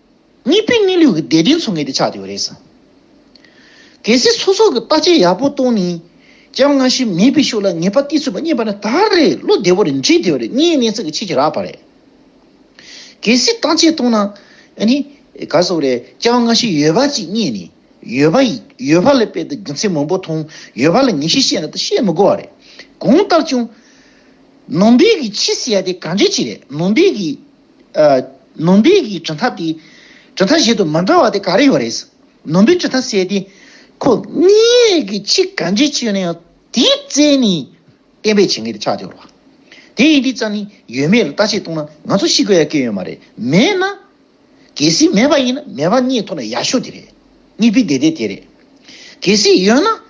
གཉིས་པའི་གནས་ལུགས་ཀྱི་བདེ་དོན་འཚོལ་མཁན་དེ་ཆགས་ཡོད་རེད་ཟེར། གལ་སྲིད་ཚོགས་གཙོ་གིས་བརྟག་དཔྱད་ཡག་པོ་གཏོང་ནས་ཀྱང་སྔ་ཕྱི་མེད་པའི་ཕྱོགས་ལ་ངེས་པ་གཏིས་ཚུད་པ་རྙེད་པ་ནི་ད་རེས་བློ་བདེ་བོ་རེད་འགྲིག་བདེ་བོ་རེད་གཉིས་གནས་ཚུལ་གྱི་ཆེས་ཆེ་རག་པ་རེད། གལ་སྲིད་བརྟག་དཔྱད་གཏོང་ན་ནི་ག་ཚོད་རེད་ཀྱང་སྔ་ཕྱི་ཡོད་པ་ཅིག་རྙེད་ནས་ཡོད་པ་ཡོད་པ་ལས་དཔེ་དང་རྒྱུ་མཚན་མང་པོ་མཐོང་ཡོད་པ་ལ་ངེས་ཤེས་བཤད་ན་ད་བཤད་མི་དགོས་བ་རེད་གང་ལྟར་བྱུང། ནང་པའི་གི་ཕྱི་ཟེར་ཡ་དེ་ག་འདྲའི་ཆེ་རེད་ནང་པའི་གི། ནོམ་པའི་གྱི་གྲི་མཐའ་དེ། གྲི་མཐའ་བཞིན་དུ་མི་འདྲ་བ་དེ་ག་རེ་ཡོད་རེད། ནོམ་པའི་གྲི་མཐའ་བསལ་ཏེ། ཁོ་གཉིས་ཀྱི་ཆིག་ག་འབྱེད་ཆོད་ནས་ཡང་དེའི་རྩེ་ནས་བསྟན་པའི་བྱེད་ངན་དེ་ཆགས་ཀྱི་རེད། དེ་ཡིན་དུས་ཙམ་ནས་ཡོད་མེད་ལ་ལྟ་ཆེད་གཏོང་ན་ང་ཚོ་ཤི་དགོས་ཡ་སྐད་ཡོད་མ་རེད་མེད་ན། གལ་སྲིད་མེད་པ་ཡིན་ན་མེད་པ་གཉིས་ཐོག་ནས་ཡག་ཤོས་དེ་རེད། གཉིས་པའི་བདེ་བདེ་དེ་རེད། གལ་སྲིད་ཡོད་ན་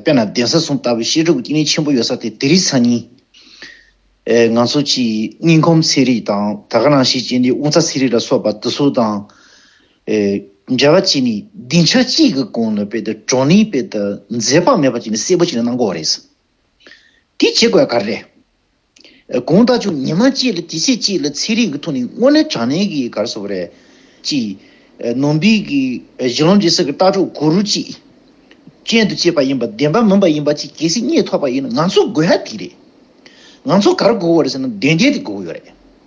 དཔེར་ན་གདན་ས་སྲུང་ལྟ་བུའི་བཤད་སྒྲུབ་ཀྱི་སྐྱེས་ནས་ཆེན་པོ་ཡོད་ས་དེ་དེ་རིགས་ཚང་ཡིན། ང་ཚོ་ཀྱི་སྙིང་ཁོམ་ཚེ་རིག་དང་ད་ག་རང་ཞིག་བྱས་འདི་དབུ་རྩ་ཚེ་རིག་ལ་སོགས་པ་དེ་ཚོ་དང་འབྲེལ་བ་བྱས་ནས་སྡིངས་ཆ་གཅིག་གི་གོང་ནས་དཔེ་དེ་གྲོ་ནས་དཔེ་དེ་མཛེས་པ་མེད་པ་བྱས་ནས་གསལ་པོ་བྱས་ནས་གནང་དགོས་བ་རེད། དེ་བྱེད་དགོས་ག་རེ་རེད། དགུང་ཟླ་བཅུ་ཉི་མ་གཅིག་ལ་དུས་ཚིགས་གཅིག་ལ་ཚེ་རིང་གི་ཐུགས་ནི་དངོས་གནས་དྲང་གནས་ཀྱི་གར་སོགས་རེད། གཅིག། ནོར་འབིག་གི་གཞི་ལམ་འདི་སྲིད་ཀྱི་ལྟ་གྲུབ་གུ་རུ་གཅིག་ཅན་དུ་བསྐྱེད་པ་ཡིན་པ་བདེན་པ་མིན་པ་ཡིན་པ་གཅིག་གལ་སྲིད་རྙེད་ཐོག་པ་ཡིན་ན་ང་ཚོ་དགོས་ཧ་དེ་རེད། ང་ཚོ་གར་སྒུག་བ་རེད་ཟེར་ན་དོན་གལ་དེ་སྒུག་ཡོད་རེད།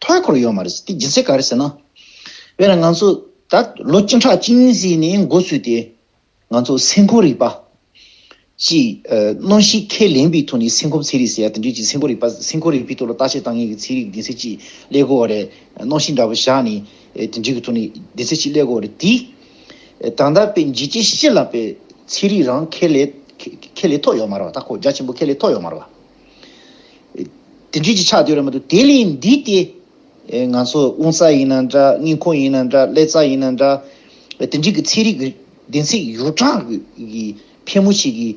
ཐོའི་འཁོར་ཡོད་མ་རེད། དེ་སྦྱིན་སྲེག་ག་རེ་ཟེར་ན། དཔེར་ན་ང་ཚོ་ད་ལོ་སྤྱི་འཁྲག་སྤྱི་གཉིས་ཟིག་ནས་འགོ་ཚུགས་ཏེ། ང་ཚོ་སེམས་ཁུར་རིག་པ། ཅི། གནོན་ཤིག་ཁས་ལེན་པའི་ཐོག་ནས་སེམས་ཁུར་ཚན་རིག་ཟེར་ཡ་དེ་འདྲའི་ཅིག་སེམས་ཁུར་རིག་པ་སེམས་ཁུར་རིག་པའི་ཐོག་ལ་བརྟག་དཔྱད་བཏང་མཁན་གྱི་ཚན་རིག་གི་སྡིངས་སེ་ཅིག་སླེ་དགོས་བ་རེད། གནོན་ཤིག་འདྲ་པོ་བཞག་ནས་དེ་འདྲའི་གི་ཐོག་ནས་སྡིངས་སེ་ཅིག་སླེ་དགོས་བ་རེད། དེས། ད་ལྟ་པའི་འཇིགས་བྱེད་ཤེ་ལ་པའི་ཚན་རིག་རང་ཁས་ལེ་ཁས་ལེ་ཐོག་ཡོད་མ་རེད་བ་ད་ཁོ་རྒྱ་ཆེན་པོ་ཁས་ལེ་ཐོག་ཡོད་མ་རེད་བ། དེ་འདྲིས་ཀྱི་ཆགས་དུས་རེད་མ་གཏོགས་དེ་ལས་འདས་ཏེ། ང་ཚོ་དབུང་རྩ་ཡིན་ན་འདྲ་སྙིང་ཁོང་ཡིན་ན་འདྲ་ཀླད་རྩ་ཡིན་ན་འདྲ། དེ་འདྲིས་ཀྱི་ཚན་རིག་གི་བདེན་ཚིག་ཡོ་བྲག་གི་ཕལ་མོ་ཆེ་གི་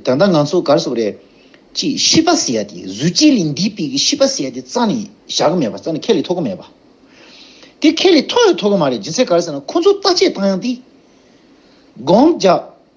ད་ལྟ་ང་ཚོ་གར་སོང་བ་རེད། ཅི་ཤི་པ་ཟེར་ཡ་དེ་གཟུགས་ཅན་ལས་འདས་པའི་གི་ཤི་པ་ཟེར་ཡ་དེ་རྩ་ནས་བཞག་གི་མེད་པ་རྩ་ནས་ཁས་ལེ་ཐོ་གི་མེད་པ། དེ་ཁས་ལེ་ཐོ་ཡོད་ཐོ་གི་མ་རེད་སྦྱིན་སྲེག་གར་ཟེར་ན་ཁོང་ཚོ་བརྟག་དཔྱད་བཏང་ཡང་དེ། སྒོང་རྒྱག།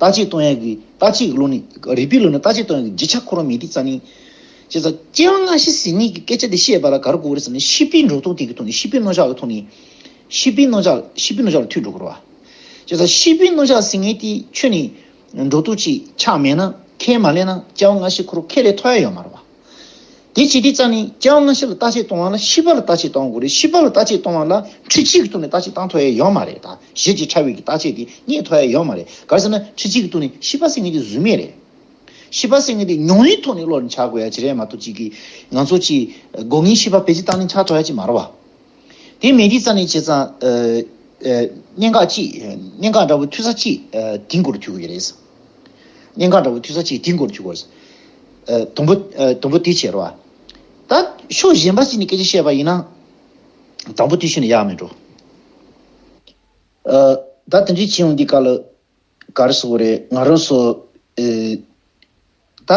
རྟག་གཅིག་སྟོང་ཡང་གི་རྟག་གཅིག་གི་ལུགས་ནི། རིག་པའི་ལུགས་ནི་རྟག་གཅིག་སྟོང་ཡང་གི་རྗེས་ཆགས་འཁོར་བ་མི་ཏིག་རྩ་ནི། ཅེས་སོ། སྐྱེ་བ་སྔ་ཕྱི་ཟིན་གཉིས་ཀྱི་སྐད་ཆ་འདི་བཤད་པ་ལ་ག་རུ་གོ་བོ་རེད་བསམ་ན་ཤི་བིའི་འགྲོ་ལྟུང་དེ་གི་ཐུགས་ནི་ཤི་བིའི་རྣོ་ལྕགས་ལ་ཐུག་ནས། ཤི་བིའི་རྣོ་ལྕགས་ཤི་བིའི་རྣོ་ལྕགས་ལ་ཐུག་འགྲོ་གི་རུ་བ། ཅེས་སོ། ཤི་བིའི་རྣོ་ལྕགས་ཟིན་ངེས་དེ་ཆོས་ནི། འགྲོ་ལྟུང་ཅི་ཆགས་མེད་ན་ཁས་མ་ལེན་ན་སྐྱེ་བ་སྔ་ཕྱི་འཁོར་བ་ཁས་ལེན་ཐོ་ཡ་ཡོད་མ་རུ་བ། དེའི་བྱེད་ཐེངས་རྩ་ནི་སྐྱེ་བ་སྔ་ཕྱི་ལ་ལྟ་དཔྱད་གཏོང་བ་ལ་ཤི་བ་ལ་ལྟ་དཔྱད་གཏོང་དགོས་རེད་ཤི་བ་ལ་ལྟ་དཔྱད་གཏོང་བ་ལ་ཁྲི་གཅིག་གི་སྟུག་ནས་ལྟ་དཔྱད་བཏང་ཐོ་ཡ་ཡོད་མ་རེད་ད་གཞི་གཅིག་ཕྲ་བྷེ་གི་ལྟ་དཔྱད་དེ་རྙེད་ཐོ་ཡ་ཡོད་མ་རེད་ག་རེ་ཟེར་ན་ཁྲི་གཅིག་གི་སྟུག་ནས་ཤི་བ་སེལ་ངེས་དེ་བཟོད་མེད་རེད། ཤི་བ་སེལ་ངེས་དེ་མྱོང་བའི་ཐོག་ནས་བློ་རིན་ཆགས་དགོས་ཡ་ཇི་རེད་མ་གཏོགས་གཅིག་གིས་ང་ཚོ་གཅིག་དགོས་ངེས་ཤི་བ་བེད་སྤྱི་བཏང་ནས་འཆག་ཐོ་ཡ་གཅིག་མ་རེད་བ། དེ་མེད་དེའི་རྩ་ནི་བྱས་ཙང་གནད་འགག་གཅིག་གནད་འགག་འདྲ་བོ་འཐུས་ས་གཅིག་དེང་གོ་རུ་འཐུས་དགོས་ཀྱི་རེད། སྙིང་ག་འདྲ་བོ་ཐུལ་ས་ཅིག་དེའི་མགོར་འཇུག་གོ། དུམ་བུ། དུམ་བུ་དེའི་ཕྱིར་རོ། ད་ཕྱོགས་གཞན་པ་ཞིག་ནས་སྐད་ཆ་བཤད་པ་ཡིན་ན། དང་པོ་དེ་ཤོད་ནས་ཡག་མི་འགྲོ། ད་དེ་འདྲའི་བྱེད་ཡོང་འདི་ག་ལ་ག་རེ་ཟོ་བོ་རེད་ང་རོ་སོ། ད་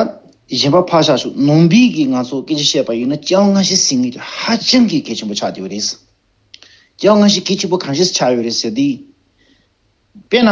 གཞན་པ་ཕར་བཞག་ཤོག་ནོངས་འབིག་གིས་ང་ཚོ་སྐད་ཆ་བཤད་པ་ཡིན་ན་སྐྱག་ང་ཤི་ཟིན་ངེས་རེད་ཧ་ཅང་གི་གལ་ཆེན་པོ་ཆགས་འདི་བོ་རེད། སྐྱག་ང་ཤི་གལ་ཆེན་པོ་གང་ཞིག་ཆགས་ཡོད་རེད་ཟེར་དུས། དཔེར་ན།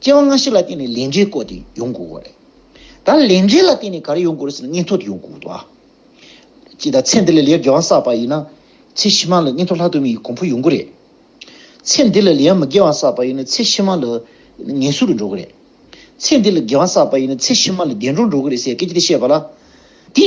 སྐྱེ་བ་སྔ་ཕྱི་ལ་བརྟེན་ནས་ལས་འབྲས་བཀོད་དེ་ཡོང་དགོས་བ་རེད། ད་ལས་འབྲས་ལ་བརྟེན་ནས་ག་རེ་ཡོང་དགོས་རེད་ཟེར་ན་སྙིང་ཐོག་ཏུ་ཡོང་དགོས་བ། ཅི་ད་ཚེ་འདི་ལས་ལས་དགེ་བ་བསགས་པ་ཡིན་ན། ཚེ་ཕྱི་མ་ལ་སྙིང་ཐོག་ལྷག་ཏུ་མི་ཡི་གོང་འཕོ་ཡོང་གི་རེད། ཚེ་འདི་ལ་ལས་མི་དགེ་བ་བསགས་པ་ཡིན་ན་ཚེ་ཕྱི་མ་ལ་ངལ་གསོ་རུ་འགྲོ་གི་རེད། ཚེ་འདི་ལ་དགེ་བ་བསགས་པ་ཡིན་ན་ཚེ་ཕྱི་མ་ལ་བདེ་འགྲོར་འགྲོ་གི་རེད་ཟེར་སྐད་ཅིག་དེ་བཤད་པ་ལ། དེ།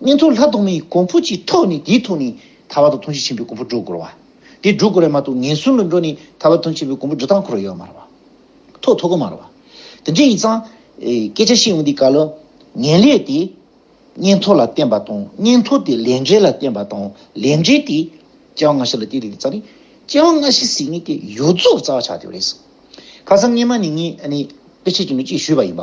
གཉན་ཐོག་ལྷ་གདོང་མའི་གོང་བུ་གྱི་ཐོག་ནས་དེའི་ཐོག་ནས་ཐར་བ་དང་ཐུན་བཞི་ཆེན་པོའི་གོང་བུ་སྒྲོག་དགོས་ར་བ། དེ་སྒྲོག་དགོས་ར་མ་ཐོག་ངན་སོང་ལ་འགྲོ་ནས་ཐར་བ་ཐུན་ཆེན་པོའི་གོང་བུ་སྒྲོག་སྟངས་འཁོར་བ་ཡོད་མ་ར་བ། ཐོག་ཐོག་གོ་མ་ར་བ། དེ་འདྲའི་ཡིན་ཙང། སྐད་ཆ་བཤད་འོང་དུས་ག་ལ། ངན་ལས་དེ། གཉན་ཐོག་ལ་བརྟེན་པ་དང་གཉན་ཐོག་དེ་ལས་འབྲས་ལ་བརྟེན་པ་དང་ལས་འབྲས་དེ། སྐྱེ་བ་སྔ་ཕྱི་ལ་བརྟེན་ཏེ་རྩ་ནི། སྐྱེ་བ་སྔ་ཕྱི་ཟིག་ནི་དེ་ཡོད་རྫོགས་རྩ་བ་ཆགས་དེ་བ་རེད། ཁ་སང་སྔས་མ་ནས་ངས་ཨ་ནི། དཔེ་ཆ་གཅིག་ནས་གཅིག་ཞུས་པ་ཡིན་པ།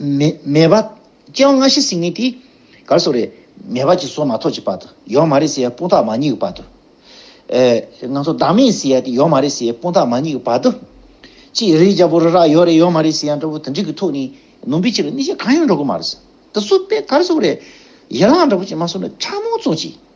མེད་པ། སྐྱེ་བ་སྔ་ཕྱི་སྲིད་ངན་དེ། གར་སོགས་རེད། མེད་པ་ཅིག་སོགས་མ་ཐོགས་ཀྱི་བར་དུ། ཡོད་མ་རེད་ཟེར་ཡ་དཔུང་ཐག་མ་རྙེད་ཀྱི་བར་དུ། ང་ཚོ་བདག་མེད་ཟེར་ཡ་དེ་ཡོད་མ་རེད་ཟེར་ཡའི་དཔུང་ཐག་མ་རྙེད་ཀྱི་བར་དུ། ཅི་རེད་རྒྱལ་པོ་རི་རག་ཡོད་རེད་ཡོད་མ་རེད་ཟེར་ཡ་འདྲ་བོ་དེ་འདྲི་གི་ཐོག་ནས་ནོངས་པའི་ཕྱིར་གནས་ཆེན་གང་ཡང་འགྲོ་གི་མ་རེད། དེ་སུ་དཔེ་གར་སོགས་རེད། ཡི་རང་འདྲ་བོ་ཅིག་མ་གསུངས་ན་ཕྲ་མོ་ཚོ་ཅིག།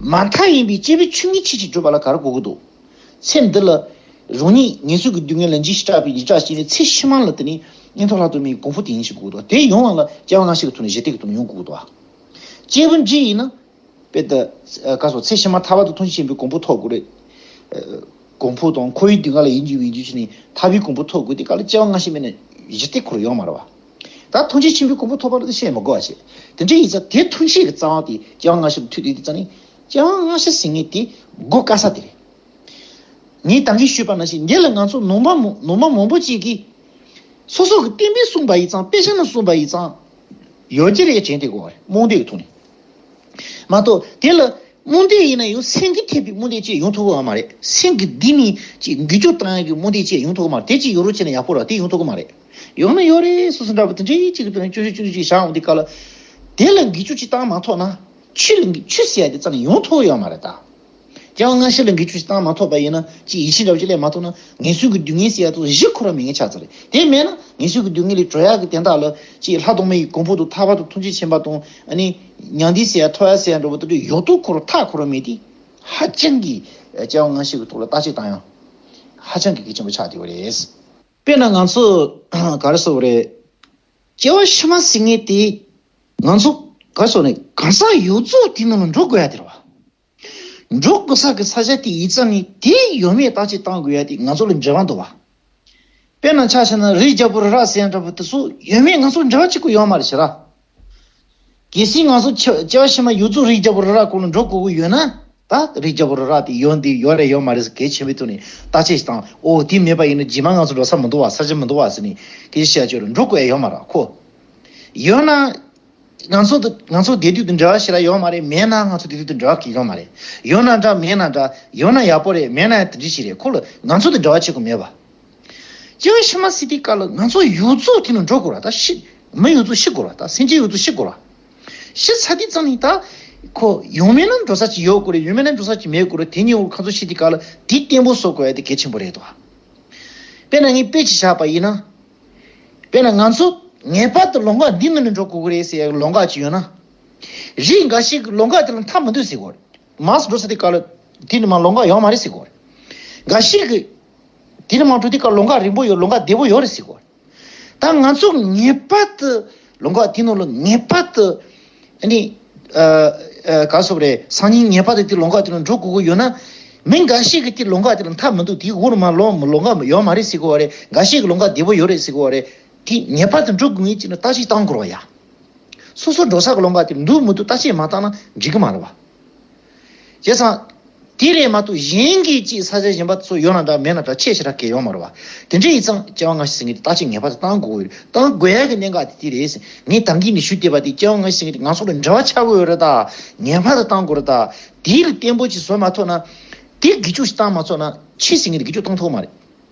མ་མཐའ་ཡིན་པའི་སྐྱེས་བུའི་ཆོས་ཉིད་ཕྱིན་ཅི་བགྲོད་པ་ལ་གར་གོ་གི་འདུག་ཚེ་འདི་ལ། རང་ཉིད་ངལ་རྩོལ་གྱི་སྡུག་བསྔལ་ལ་འཇིགས་ཤིང་སྐྲག་པའི་ཡི་དྭགས་ཤིག་ནི་ཚེ་ཕྱི་མ་ལ་དེ་ནི་གཉེན་ཐོག་ལྷག་ཏུ་མེད་ཀྱི་གོང་བུ་དེ་ཡིན་ཞེས་གོ་གི་འདུག་དེ་ཡོང་བ་ལ་སྐྱེ་བ་སྔ་ཕྱི་གི་ཐོག་ནས་གཞི་གཏད་ཀྱི་ཐོག་ནས་ཡོང་གི་འདུག་བ། སྐྱེས་བུ་འཇིག་ཡིན་ན། དཔེ་ད་ག་སོགས་ཚེ་ཕྱི་མ་ཐར་བ་དང་ཐུགས་རྗེ་ཆེན་པོའི་གོང་བུ་ཐོག་དགོས། གོང་བུ་དང་ཁོ་བོའི་སྡུག་བསྔལ་ལ་ཡིད་འགྱུ་བའི་འགྱུ་བྱེད་ནི་ཐར་བའི་གོང་བུ་ཐོག་དགོས་དེ་ག་ལ་སྐྱེ་བ་སྔ་ཕྱི་མེད་ན་གཞི་གཏད་ཁོ་རུ་ཡོང་མ་རུང་བ། ད་ཐུགས་རྗེ་ཆེན་པོའི་སྐུ་འབུ་ཐོག་པར་འདི་བཤད་མི་དགོས་པ་བཤད། དེ་འདྲའི་ཡིག་ཚགས་དེ་ཐུགས་རྗེ་གི་རྩ་བ་དེ་རྒྱལ་དབང་ལྔ་ཤོས་ལ་མཐུད་དུས་དེ་རྩ་ནི། རྒྱལ་དབང་ལྔ་ཤོས་ཟེར་ངེས་དེ་གོ་དཀའ་ས་དེ་རེད། ངས་དང་གིས་ཞུས་པ་ན་ཞིག་འདི་ལ་ང་ཚོ་ནོར་མ་ནོར་མ་མང་པོ་ཅིག་གིས། སོ་སོ་གི་བསྟན་པའི་གསུངས་པ་ཡིག་ཚང་དཔེ་ཆ་ནང་གསུངས་པ་ཡིག་ཚང། ཡོད་ཀྱི་རེད་དྲན་དེ་གོ་བ་རེད་རྨོངས་དད་ཀྱི་ཐོག་ནས། མ་གཏོགས་དེ་ལ་རྨོངས་དད་ཡིན་ན་ཡང་སེང་གེ་ཐེབས་པའི་རྨོངས་དད་ཅེས་ཡོང་ཐུབ་གི་མ་རེད་སེང་གེ་འདི་ནི་ཅེས་འགུལ་སྐྱོད་བཏང་ཡག་གི་རྨོངས་དད་ཅེས་ཡོང་ཐུབ་གི་མ་རེད་དེ་ཅིག་ཡོད་རོགས་བྱས་ན་ཡག་པོ་རེད་དེ་ཡོང་ཐུབ་གི་མ་རེད། ཡོང་ན་ཡོད་རེད་སོ་སོ་འདྲ་བོ་དེ་འདྲའི་གཅིག་གི་དོན་བཅུ་བཞི་བཅུ་བཞི་བཞག་འོང་དེ་ག་ལ། དེ་ལ་འགི་ཆུ་གཅིག་བཏང་མ་ཐོག་ན། ཆུ་ལ་འགི་ཆུ་ཟེར་ཡ་དེ་རྩ་ནས་ཡོང་ཐུབ་ཡོད་མ་རེད་ད། རྐྱང་བ་སྔ་ཕྱི་ལ་འགི་ཆུ་ཞིག་བཏང་མ་ཐོག་པ་ཡིན་ན་ཅིག་ཡིད་ཆེས་འདྲ་བོ་ཅིག་སླེབས་མ་ཐུབ་ན་ངལ་སུན་གི་སྡུག་བསྔལ་ཟེར་ཡ་ཐོག་གཞི་འཁོར་བ་མེད་མཁན་ཆགས་ཚར་རེད་དེ་མེད་ན་ངལ་སུན་གི་སྡུག་བསྔལ་ལས་གྲོལ་ཡག་གི་དན་རྟགས་ལ་ཅིག་ལྷ་གདོང་མ་ཡི་གོང་ཕུག་ཏུ་ཐར་བར་དུ་ཐུགས་རྗེ་ཆེན་པ་དང་ཨ་ནི། མྱང་འདི་ཟེར་ཡ་ཐོ་ཡ་ཟེར་ཡ་འདྲ་བོ་དེ་འདྲའི་ཡོག་ཏུ་འཁོར་བ་ཐག་འཁོར་བ་མེད་དེ། ཧ་ཅང་གི། རྐྱང་བ་སྔ་ཕྱི་གི་ཐོག་ལ་རྟགས་གཅིག་བཏང་ཡང། ཧ་ཅང་གི་གལ་ཆེན་པོ་ཆགས་བསྡད་ཡོད་རེད། དཔེར་ན་ང་ཚོས་ག་རེ་བཟོ་བ་རེད། སྐྱེ་བ་ཕྱི་མ་ཟིག་ངེས་ཏེ། ང་ཚོ་ག་རེ་བཟོ་ནས་གང་ཟག་ཡོད་རྫོགས་དེའི་ནང་ལ་འགྲོ་དགོས་ཡ་དེ་རེད་བ། འགྲོ་དགོས་ས་གི་ས་ཆ་དེ་ཡིད་ཙམ་ནས་དེ་ཡོད་མེད་བརྟག་དཔྱད་བཏང་དགོས་ཡ་དེ་ང་ཚོ་ལ་འབྲེལ་བ་འདུག་བ། དཔེར་ན་ཆ་ཤས་ན་རི་རྒྱ་བོ་རི་རག་ཟས་འདྲ་བོ་དེ་ཚོ་ཡོད་མེད་ང་ཚོ་ལ་འབྲེལ་བ་གཅིག་པུ་ཡོད་མ་རེད་བྱས་ར། གལ་སྲིད་ང་ཚོ་བྱ་བ་ཕྱི་མ་ཡུལ་ཚོ་རིགས་བརྒྱ་པོ་རི་རག་ཀུན་ལ་འགྲོ་དགོས་ཀྱི་ཡོད་ན། ད་རིགས་བརྒྱ་པོ་རི་རག་དེ་ཡོད་འདི་ཡོད་རེད་ཡོད་མ་རེད་ཟེར་གལ་ཆེན་པོའི་ཐོག་ནས་བརྟག་དཔྱད་ཞིག་དང་འོ་དེ་མེད་པ་ཡིན་ན་རྗེས་མ་ང་ཚོ་འགྲོ་ས་མི་འདུག་བ་ས་ཆ་མི་འདུག་བ་ཟེར་ནས་གལ་ཆེ་བྱ་ཆོས་རེད་འགྲོ་དགོས་ཡ་ཡོད་མ་རག་གོ། ཡོད་ན། ང་ཚོ་དང་ང་ཚོ་དེ་དུས་དང་འབྲེལ་བ་ཞིག་ལ་ཡོད་མ་རེད་མེད་ན་ང་ཚོ་དེ་དུས་དང་འབྲེལ་བ་གི་ཡོད་མ་རེད་ཡོད་ན་འདྲ་མེད་ན་འདྲ་ཡོད་ན་ཡག་པོ་རེད་མེད་ན་ཡང་དེ་འདྲི་ཞིག་རེད་ཁོ་ལ་ང་ཚོ་དང་འབྲེལ་བ་བྱེད་དགོས་མེད་བ། ཅིའང་ཤི་མ་སི་ཏི་ཀ་ལ་ང་ཚོ་ཡུལ་གཙོ་དེ་ནི་འགྲོ་དགོས་ར་ད་ཤི། མི་ཡུལ་གཙོ་ཤི་དགོས་ར་ད་སེམས་ཅན་ཡུལ་གཙོ་ཤི་དགོས་ར། ཤི་ཚ་དེ་ཙམ་ནི་ད། ཁོ། ཡུལ་མི་རྣམས་འགྲོ་ས་ཅིག་ཡོད་དགོས་རེད་ཡུལ་མི་རྣམས་འགྲོ་ས་ཅིག་མེད་དགོས་རེད་དེ་ཉིད་འོག་ཁ་ཚོ་ཤི་ཏི་ཀ་ལ་དེ་བརྟན་པོ་བཟོ་དགོས་ཡ་དེ་གལ་ཆེན་པོ་རེད་དོ། དཔེར་ན་ངས་དཔེ་ཅིག་བཞག་པ་ཡིན་ན། དཔེར་ན་ང་ཚོ། ངེས་པར་དུ་ལོ་འགག་འདི་ནང་ནས་འགྲོ་དགོས་ཀྱི་རེད་ཟེར་ཡ་ལོ་འགག་ཅིག་ཡོད་ན། རིགས་འགའ་ཞིག་ལོ་འགག་དེ་ལ་མཐའ་མི་འདོད་ཟེར་དགོས་རེད། མ་ཟད་འགྲོ་ས་ཏི་ཀ་ལ་དེ་ནི་མ་ལོ་འགག་ཡོང་མ་རེད་ཟེར་དགོས་རེད། འགའ་ཞིག་གིས། འདིར་མང་དྲོ་དེ་ཀ་ལོ་འགའ་རིང་པོ་ཡོད་ལོ་འགའ་བདེ་པོ་ཡོད་རེད་ཟེར་གོ། ད་ང་ཚོ་ངེས་པར་དུ་ལོ་འགའ་དེ་ནང་ལ་ངེས་པར་དུ་ནི། ག་ལ་སོགས་པ་རེད་སང་ཉིན་ངེས་པར་དུ་དེ་ལོ་འགའ་དེ་ནང་འགྲོ་དགོས་ཀྱི་ཡོད་ན། མི་འགའ་ཞིག་གིས་དེ་ལོ་འགའ་དེ་ལ་མཐའ་མི་འདུག་དེའི་དབུ་ལ་མ་ལོ་ལོ་འགའ་ཡོད་མ་རེད་ཟེར་གོ་བ་རེད་འགའ་ཞིག་གིས་ལོ་འགའ་བདེ་པོ་ཡོད་རེད་ཟེར་གོ་བ་རེད། དེ་ངེས་པར་དུ་འགྲོ་དགོས་ངེས་ཅིག་ན་བརྟག་དཔྱད་བཏང་དགོས་རོགས་ཡ། སོ་སོ་འགྲོ་ས་ག་ལོ་འགའ་དེ་འདུག་མི་འདུག་བརྟག་དཔྱད་མ་བཏང་ན་འགྲིག་གི་མ་རེད་བ། བྱས་ཙང། དེ་ལས་མ་གཏོགས་གཞན་གྱིས་ཅིག་ས་ཆ་གཞན་པ་སོགས་ཡོད་ན་འདྲ་མེད་ན་འདྲ་ཆེས་ཆེ་ཕྲ་གལ་ཡོང་མ་རུང་བ། དེ་འདྲས་ཡིན་ཙང་སྐྱེ་བ་སྔ་ཕྱི་ཟིན་གྱི་དེ་ལྟ་ཅིག་ངེས་པར་དུ་གཏང་དགོས་ཀྱི་གཏང་དགོས་ཀྱི་གནད་འགག་དེ་དེ་རེད། ངས་དམ་གྱིས་ནི་ཞུ་བདེ་བ་དེ་སྐྱེ་བ་སྔ་ཕྱི་ཟིན་གྱི་ང་ཚོ་ལ་འབྲེལ་བ་ཆགས་དགོས་རེད་ད། ངེས་པར་དུ་གཏང་དགོས་རེད་ད། དེའི་ལས་བརྟན་པོ་ཅིག་བཟོས་མ་ཐོག་ན། དེ་དགེ་སྐྱོགས་ཤིག་གཏང་མ་ཚོགས་ན་ཕྱི་ཟིན་གྱི་དགེ་སྐྱོགས་གཏང་ཐུབ་ཀྱི་མ་རེད།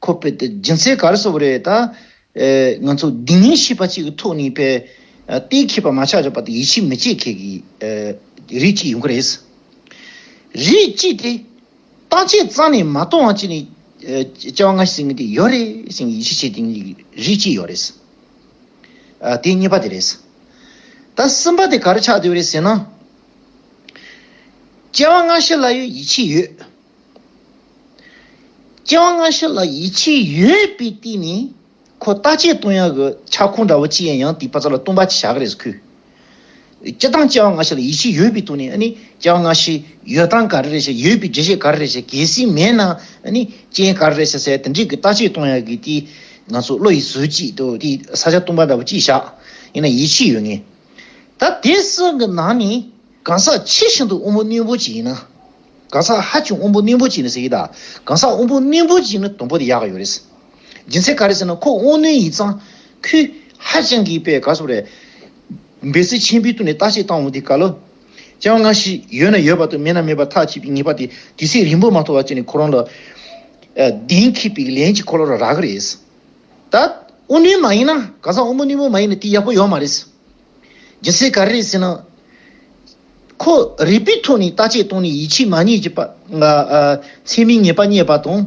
ཁོ་པས་དེ་སྦྱིན་སྲེག་ག་རེ་བཟོ་བ་རེད་ད། ང་ཚོ་སྡིག་ཉེས་ཤེས་པ་གཅིག་གི་ཐོག་ནས་པའི་ཏའི་མཁས་པ་མ་ཆགས་ཆགས་པ་དེ་ཡིད་ཆེས་མི་བྱེད་མཁན་གྱི་རིགས་གཅིག་ཡོང་གི་རེད། རིགས་གཅིག་དེ་བརྟག་དཔྱད་རྩ་ནས་མ་གཏོང་བ་གཅིག་ནས་བཅའ་བ་ང་ཟེར་མཁན་དེ་ཡོད་རེད་ཟེར་མཁན་ཡིད་ཆེས་བྱེད་མཁན་གྱི་རིགས་གཅིག་ཡོད་རེད། དེ་གཉིས་པ་དེ་རེད། ད་གསུམ་པ་དེ་ག་རེ་ཆགས་འདོད་རེད་ཟེར་ན། བཅའ་བ་ང་ཤེས་ལ་ཡོད་ཡིད་ཆེས་ཡོད། སྐྱེ་བ་སྔ་ཕྱི་ལ་ཡིད་ཆེས་ཡོད་པའི་སྟེང་ནས་ཁོ་བརྟག་དཔྱད་གཏོང་ཡག་གི་ཁྱབ་ཁོངས་འདྲ་བོ་ཅི་ཡང་ཡང་དེའི་བ་ཚྭ་ལ་བཏུང་བ་ཅི་བྱ་གི་རེད་ཟེར་ཁུལ། སྤྱི་བཏང་སྐྱེ་བ་སྔ་ཕྱི་ལ་ཡིད་ཆེས་ཡོད་པའི་སྟེང་ནས་སྐྱེ་བ་སྔ་ཕྱི་ཡོད་སྟངས་ག་རེ་རེད་བྱས་ཡོད་པའི་འགྲེལ་བཤད་ག་རེ་རེད་བྱས་གལ་སྲིད་མེད་ན་རྐྱེན་ག་རེ་རེད་བྱས་ཟེར་དེ་འདྲའི་གི་བརྟག་དཔྱད་གཏོང་ཡག་གི་དེའི་ང་ཚོ་བློ་ཡིད་ཟོལ་གྱིས་དེ་དེའི་ས་ཆ་བཏུང་བ་འདྲ་བོ་ཅི་བྱ་ཡིན་ན་ཡིད་ཆེས་ཡོད་ངེས། ད་དེ་སྲིད་གི་ནང་ནས་གང་ཟག་ཆེས་ཤིན་ཏུ་དབུལ་པོ་རྣོན་པོ་ཅིག་ཡིན་ན། གང་ཟག་ཧ་ཅང་དབུལ་པོ་རྣོན་པོ་ཅིག་ཡིན་ན་ཟེར་གི་དང་གང་ཟག་དབུལ་པོ་རྣོན་པོ་ཅིག་ཡིན་ན་དུམ་བུ་དེ་ཡག་གི་ཡོད་རེད། རྒྱུ་མཚན་ག་རེ་ཟེར་ན་ཁོ་དབུལ་རྣོན་ཡིན་ཙང། ཁོས་ཧ་ཅང་གི་པའི་ག་སོ་རེད། འབད་བརྩོན་ཆེན་པོའི་སྟུ་ནས་བརྟག་དཔྱད་བཏང་འོང་དེ་ག་ལོ། སྤྱང་བ་སྔ་ཕྱི་ཡོད་ན་ཡོད་པ་དང་མེད་ན་མེད་པ་ཐག་གཅིག་པའི་ངེས་པ་དེ་དུས་ཚོད་རིང་པོ་མ་ཐོག་བར་བྱས་ནས་ཁོ་རང་ལ། གདེང་ཁེབས་པའི་ལན་གཅིག་ཁོ་ལོ་ར་རག་གི་རེད། ད། དབུལ་རྣོན་མ་ཡིན་ན་གང་ཟག་དབུལ་པོ་རྣོན་པོ་མ་ཡིན་ན་དེ་ཡག་པོ་ཡོད་མ་རེད། ཇི་སྲིད་ག་རེ་ཟེར་ན། ཁོ་རིག་པའི་ཐོག་ནས་ལྟ་དཔྱད་བཏང་ནས་ཡིད་ཆེས་མ་རྙེད་ཀྱི་པ། ཚད་མའི་ངེས་པ་རྙེད་པ་དང།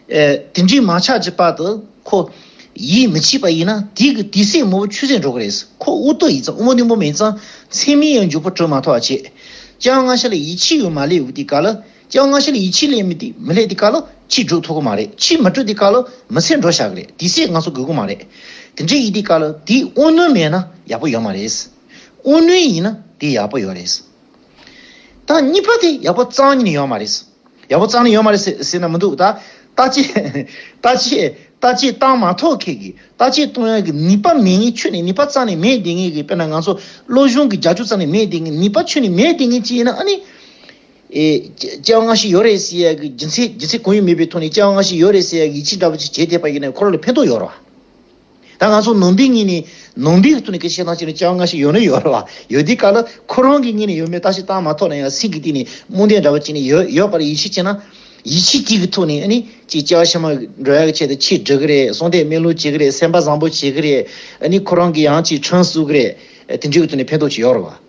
དེ་འདྲའི་མ་ཆགས་ཀྱི་པ་དུ་ཁོ་ཡིད་མི་ཆེས་པ་ཡིན་ན་དེ་གི་དུས་སེ་མོ་བོ་ཆུད་ཟོས་འགྲོ་གི་རེད། ཁོ་དབུགས་རྟོག་ཡིད་ཙམ་དབུ་མ་ནུ་མོ་མེད་ཙང་ཚད་མའི་ཡང་འཇུག་པ་གྲོལ་མ་ཐག་བྱས་ཀྱང་སྔ་ཤ་ལ་ཡིད་ཆེས་ཡོད་མ་ལེའུ་སྟེ་ག་ལ། སྤྱང་སྔ་ཕྱིར་ཡིད་ཆེས་ལས་མི་དེ་མི་ལས་དེ་ག་ལོ་ཕྱིས་འགྲོ་ཐུབ་གི་མ་རེད་ཕྱིས་མི་འགྲོ་དེ་ག་ལོ་མི་ཚེ་འགྲོ་བཞག་གི་རེད་དེ་སྲས་ང་ཚོ་དགོས་གི་མ་རེད་དེ་འདྲའི་ཡིད་དེ་ག་ལོ་དེ་དབུ་ནུས་མེད་ན་ཡག་པོ་ཡོད་མ་རེད་དབུ་ནུས་ཡིན་ན་དེ་ཡག་པོ་ཡོད་རེད་ད་གཉིས་པ་དེ་ཡག་པོ་གཙང་ཉིད་ཡོད་མ་རེད་ཡག་པོ་གཙང་ནི་ཡོད་མ་རེད་ཟེར་ན་མི་འདུག་ད་ལྟ་ལྟ་ཆེད་ལྟ་ཆེད་ལྟ་ཆེད་བཏང་མ་ཐོག་ཁེལ་གི་ལྟ་ཆེད་གཏོང་ཡག་གི་ནུས་པ་མེད་ངེས་ཆོས་ནི་ནུས་པ་གཙང་ནི་མེད་བསྡད་ངེས་གི་དཔེར་ན་ང་ཚོ་བློ་གཞུང་གི་རྒྱ་ཆུ་གཙང་ནི་མེད་བསྡད་ངེས་ནུས་པ་ཆོས་ནི་མེད་བསྡད་ངེས་ཅི་ཡིན་ན་ཨ་ནི། ལྕགས་སྔགས་ཤིག་ཡོད་རེད་ཟེར་ཡ་གི་སྦྱིན་སྲེག་སྦྱིན་སྲེག་གང་ཡོད་མེད་པའི་ཐོག་ནས་ལྕགས་སྔགས་ཤིག་ཡོད་རེད་ཟེར་ཡ་གི་ཡིད་ཆེས་འདྲ་པོ་ཆེ་བྱས་བསྡད་པ་ཡིན་ན་ཁོ་རང་ལ་ཕན་ཐོགས་ཡོད་རེད་བ། ད་ང་ཚོ་ནང་པའི་ངོས་ནས་ནང་པའི་ཐོག་ནས་གལ་ཆེ་ཐང་ཆེ་ན་ལྕགས་སྔགས་ཤིག་ཡོད་ན་ཡོད་རེད་བ། ཡོད་དེ་ག་ལ་ཁོ་རང་གི་གཉིད་ནས་ཡོད་མེད་བལྟ་ཞིག་བལྟ་མ་ཐོག་ནས་ཡང་སེམས་ཀྱི་སྟེང་ནས་རྨོངས་དད་འདྲ་པོ་བྱས་ནས་ཡོད་ཡོད་པར་ཡིད་ཆེས་བྱས་ན། ཡིད་ཆེས་ཅིག་གི་ཐོག་ནས་ཨ་ནི་ཅིག་ལྕགས་ཕྱེ་མ་འགྲོ་ཡ་གི་ཆེད་དུ་ཆེས་འབྲི་གི་རེད་གསོལ་འདེབས་སྨན་ལུགས་བྱེད་གི་རེད་སེམས་པ་བཟང་པོ་བྱེད་གི་རེད་ཨ་ནི་ཁོ་རང་གི་ཡང་ཅིག་ཁྲོན་བསུ་གི་རེད་དེ་འདྲའི་ཐོག་ནས་ཕན་ཐོགས་ཆེ་ཡོད་རེད་བ།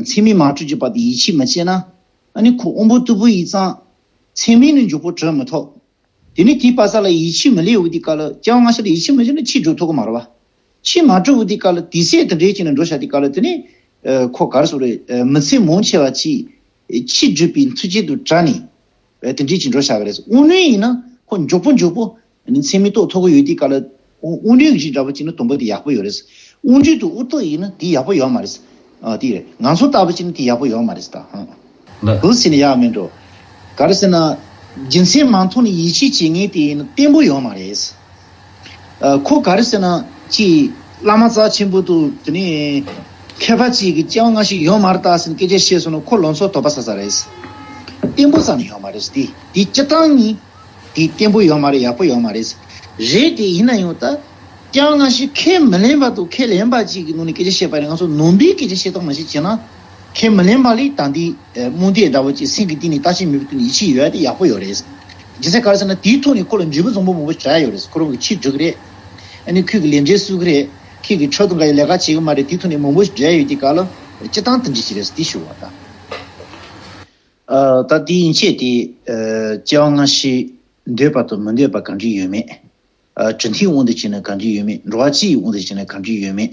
མཚན་མའི་མ་དྲོས་ཀྱི་བར་དུ་ཡིད་ཆེས་མི་བྱེད་ན། ནི་ཁོ་དབོན་པོ་རྟུལ་པོ་ཡིས་གཙང། མཚན་མའི་ནི་མཇུག་བོར་དྲོད་མི་ཐོགས། དེ་ནི་དེའི་བ་ས་ལ་ཡིད་ཆེས་མི་ལེགས་འུ་དེའི་སྐལ། ཀྱང་སྔ་ཕྱི་ལ་ཡིད་ཆེས་མི་བྱེད་ན་ཕྱིས་དྲོད་ཐོགས་ཀྱི་མ་རེད་བ། ཕྱིས་མ་དྲོས་འུ་དེའི་སྐལ། དེ་ཟས་དེ་འབྲས་ཅན་ནི་འགྲོ་བྱ་དེའི་སྐལ། དེ་ནི། ཁོ་གར་སོགས་རེ། མི་ཚེ་མོངས་ཆེ་བ་གྱིས། ཕྱིས་བརྗོད་པའི་མཐུ་ཅན་དུ་བྲལ་ནས། བས་དེ་འདྲའི་ཅི་འགྲོ་བྱ་གི་རེད། དབུགས་རྣོན་ཡིན་ན་ཁོ་མགྱོགས་པོ་མགྱོགས་པོ། ནི་མཚན་མི་རྟོག་ཐོག་གི་ཡོད་དེའི་དཀའ་ལ། དབུགས་རྣོན་གྱི་ཅི་འདྲ་པོ་ཅིག་ན་དུམ་བུ་དེ་ཡག་པོ་ཡོད་རེད། དབུགས་འཇུག་ཏུ་དབུགས་ཐོག་ཡིན་ན་དེ་ཡག་པོ་ཡོད་མ་རེད། དེ་རེད། ང་ཚོ་ལྟ་བུ་ཅིག་ན་དེ་ཡག་པོ་ཡོད་མ་རེད། བུ་ཟེར་ནས་ཡག་མིན་འགྲོ། ག་རེ་ཟེར་ན། རྒྱུ་མཚན་མ་མཐོང་ནས་ཡིད་ཆེས་བྱེད་ངེས་དེ་ཡིན་ན་བརྟན་པོ་ཡོད་མ་རེད། ཁོ་ག་རེ་ཟེར་ན་ཅི། བླ་མ་རྩ་ཆེན་པོ་འདུག་དེ་ནས། མཁས་པ་ཅིག་གིས་སྤྱན་སྔ་ཞིག་ཡོང་མ་རྟགས་ཟིན་སྐད་ཆ་བཤད་སོང་ན་ཁོ་ལོ་ཚོད་དོགས་པ་ཟ་ས་རེད། བརྟན་པོ་ཙམ་ཡོད་མ་རེད་དེ་དེའི་སྤྱི་སྟངས་ནི། དེ་བརྟན་པོ་ཡོད་མ་རེད་ཡག་པོ་ཡོད་མ་རེད། རེད་དེ་ཡིན་ན་ཡང་ད། སྤྱན་སྔ་ཞིག་ཁས་མི་ལེན་པ་འདུག་ཁས་ལེན་པ་ཅིག་གི་ནང་ནས་སྐད་ཆ་བཤད་པ་ནི་ང་ཚོ་ནོར་འབིག་སྐད་ཆ་བཤད་སྟངས་མ་ཞིག་བྱས་ན། ཁས་མི་ལེན་པ་ལས་ད་ལྟའི་རྨོངས་དད་འདྲ་བོ་ཅིག་སེམས་ཀྱི་གཏིང་ནས་ལྟ་ཅི་མི་ཕོད་དུ་ཡིད་ཆེས་ཡོད་དེ་ཡག་པོ་ཡོད་རེད། ཇི་སྲིད་ག་རེ་ཟེར་ན་དེའི་ཐོག་ནས་ཁོ་ལ་འཇུས་པོ་འཛོམས་པོ་མང་པོ་བྱ་ཡ་ཡོད་རེད་ཁོ་རང་གི་ཁྱི་འབྲི་གི་རེད། ཨ་ནི་ཁོས་གི་ལས་འབྲས་སུ་གི་རེད། ཁྱེད་ཀྱི་ཕྲག་ཏུ་འགའ་ཡི་ལས་ཀ་བྱེད་གི་མ་རེད་དེའི་ཐོག་ནས་མང་པོ་བྲལ་ཡོད་དེ་ག་ལ་སྤྱི་སྟངས་དེ་འདྲི་གི་རེད་དེ་ཞུ་བ་ད། ད་དེ་ཡིན་ཆད་དེ་སྐྱེ་བ་སྔ་ཕྱི་འདོད་པ་དང་མི་འདོད་པ་ག་འདྲི་ཡོད་མེད། དྲི་མཐིང་དབང་དུ་བྱས་ན་ག་འདྲི་ཡོད་མེད་འགྲོ་བ་སྤྱི་ཡི་དབང་དུ་བྱས་ན་ག་འདྲི་ཡོད་མེད།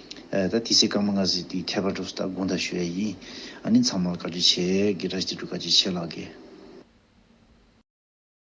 ད་དེ་སྲིད་སྐར་མ་ལྔ་ཟིག་དེའི་ཁྱད་པར་གྲུབ་ས་དག་དགུང་ད་ཞུ་ཡ་ཡིན། ཨ་ནི་ཚང་མར་བཀའ་དྲིན་ཆེ། གི་ར་ཅི་དྲུག་བཀའ་དྲིན་ཆེ་ལགས།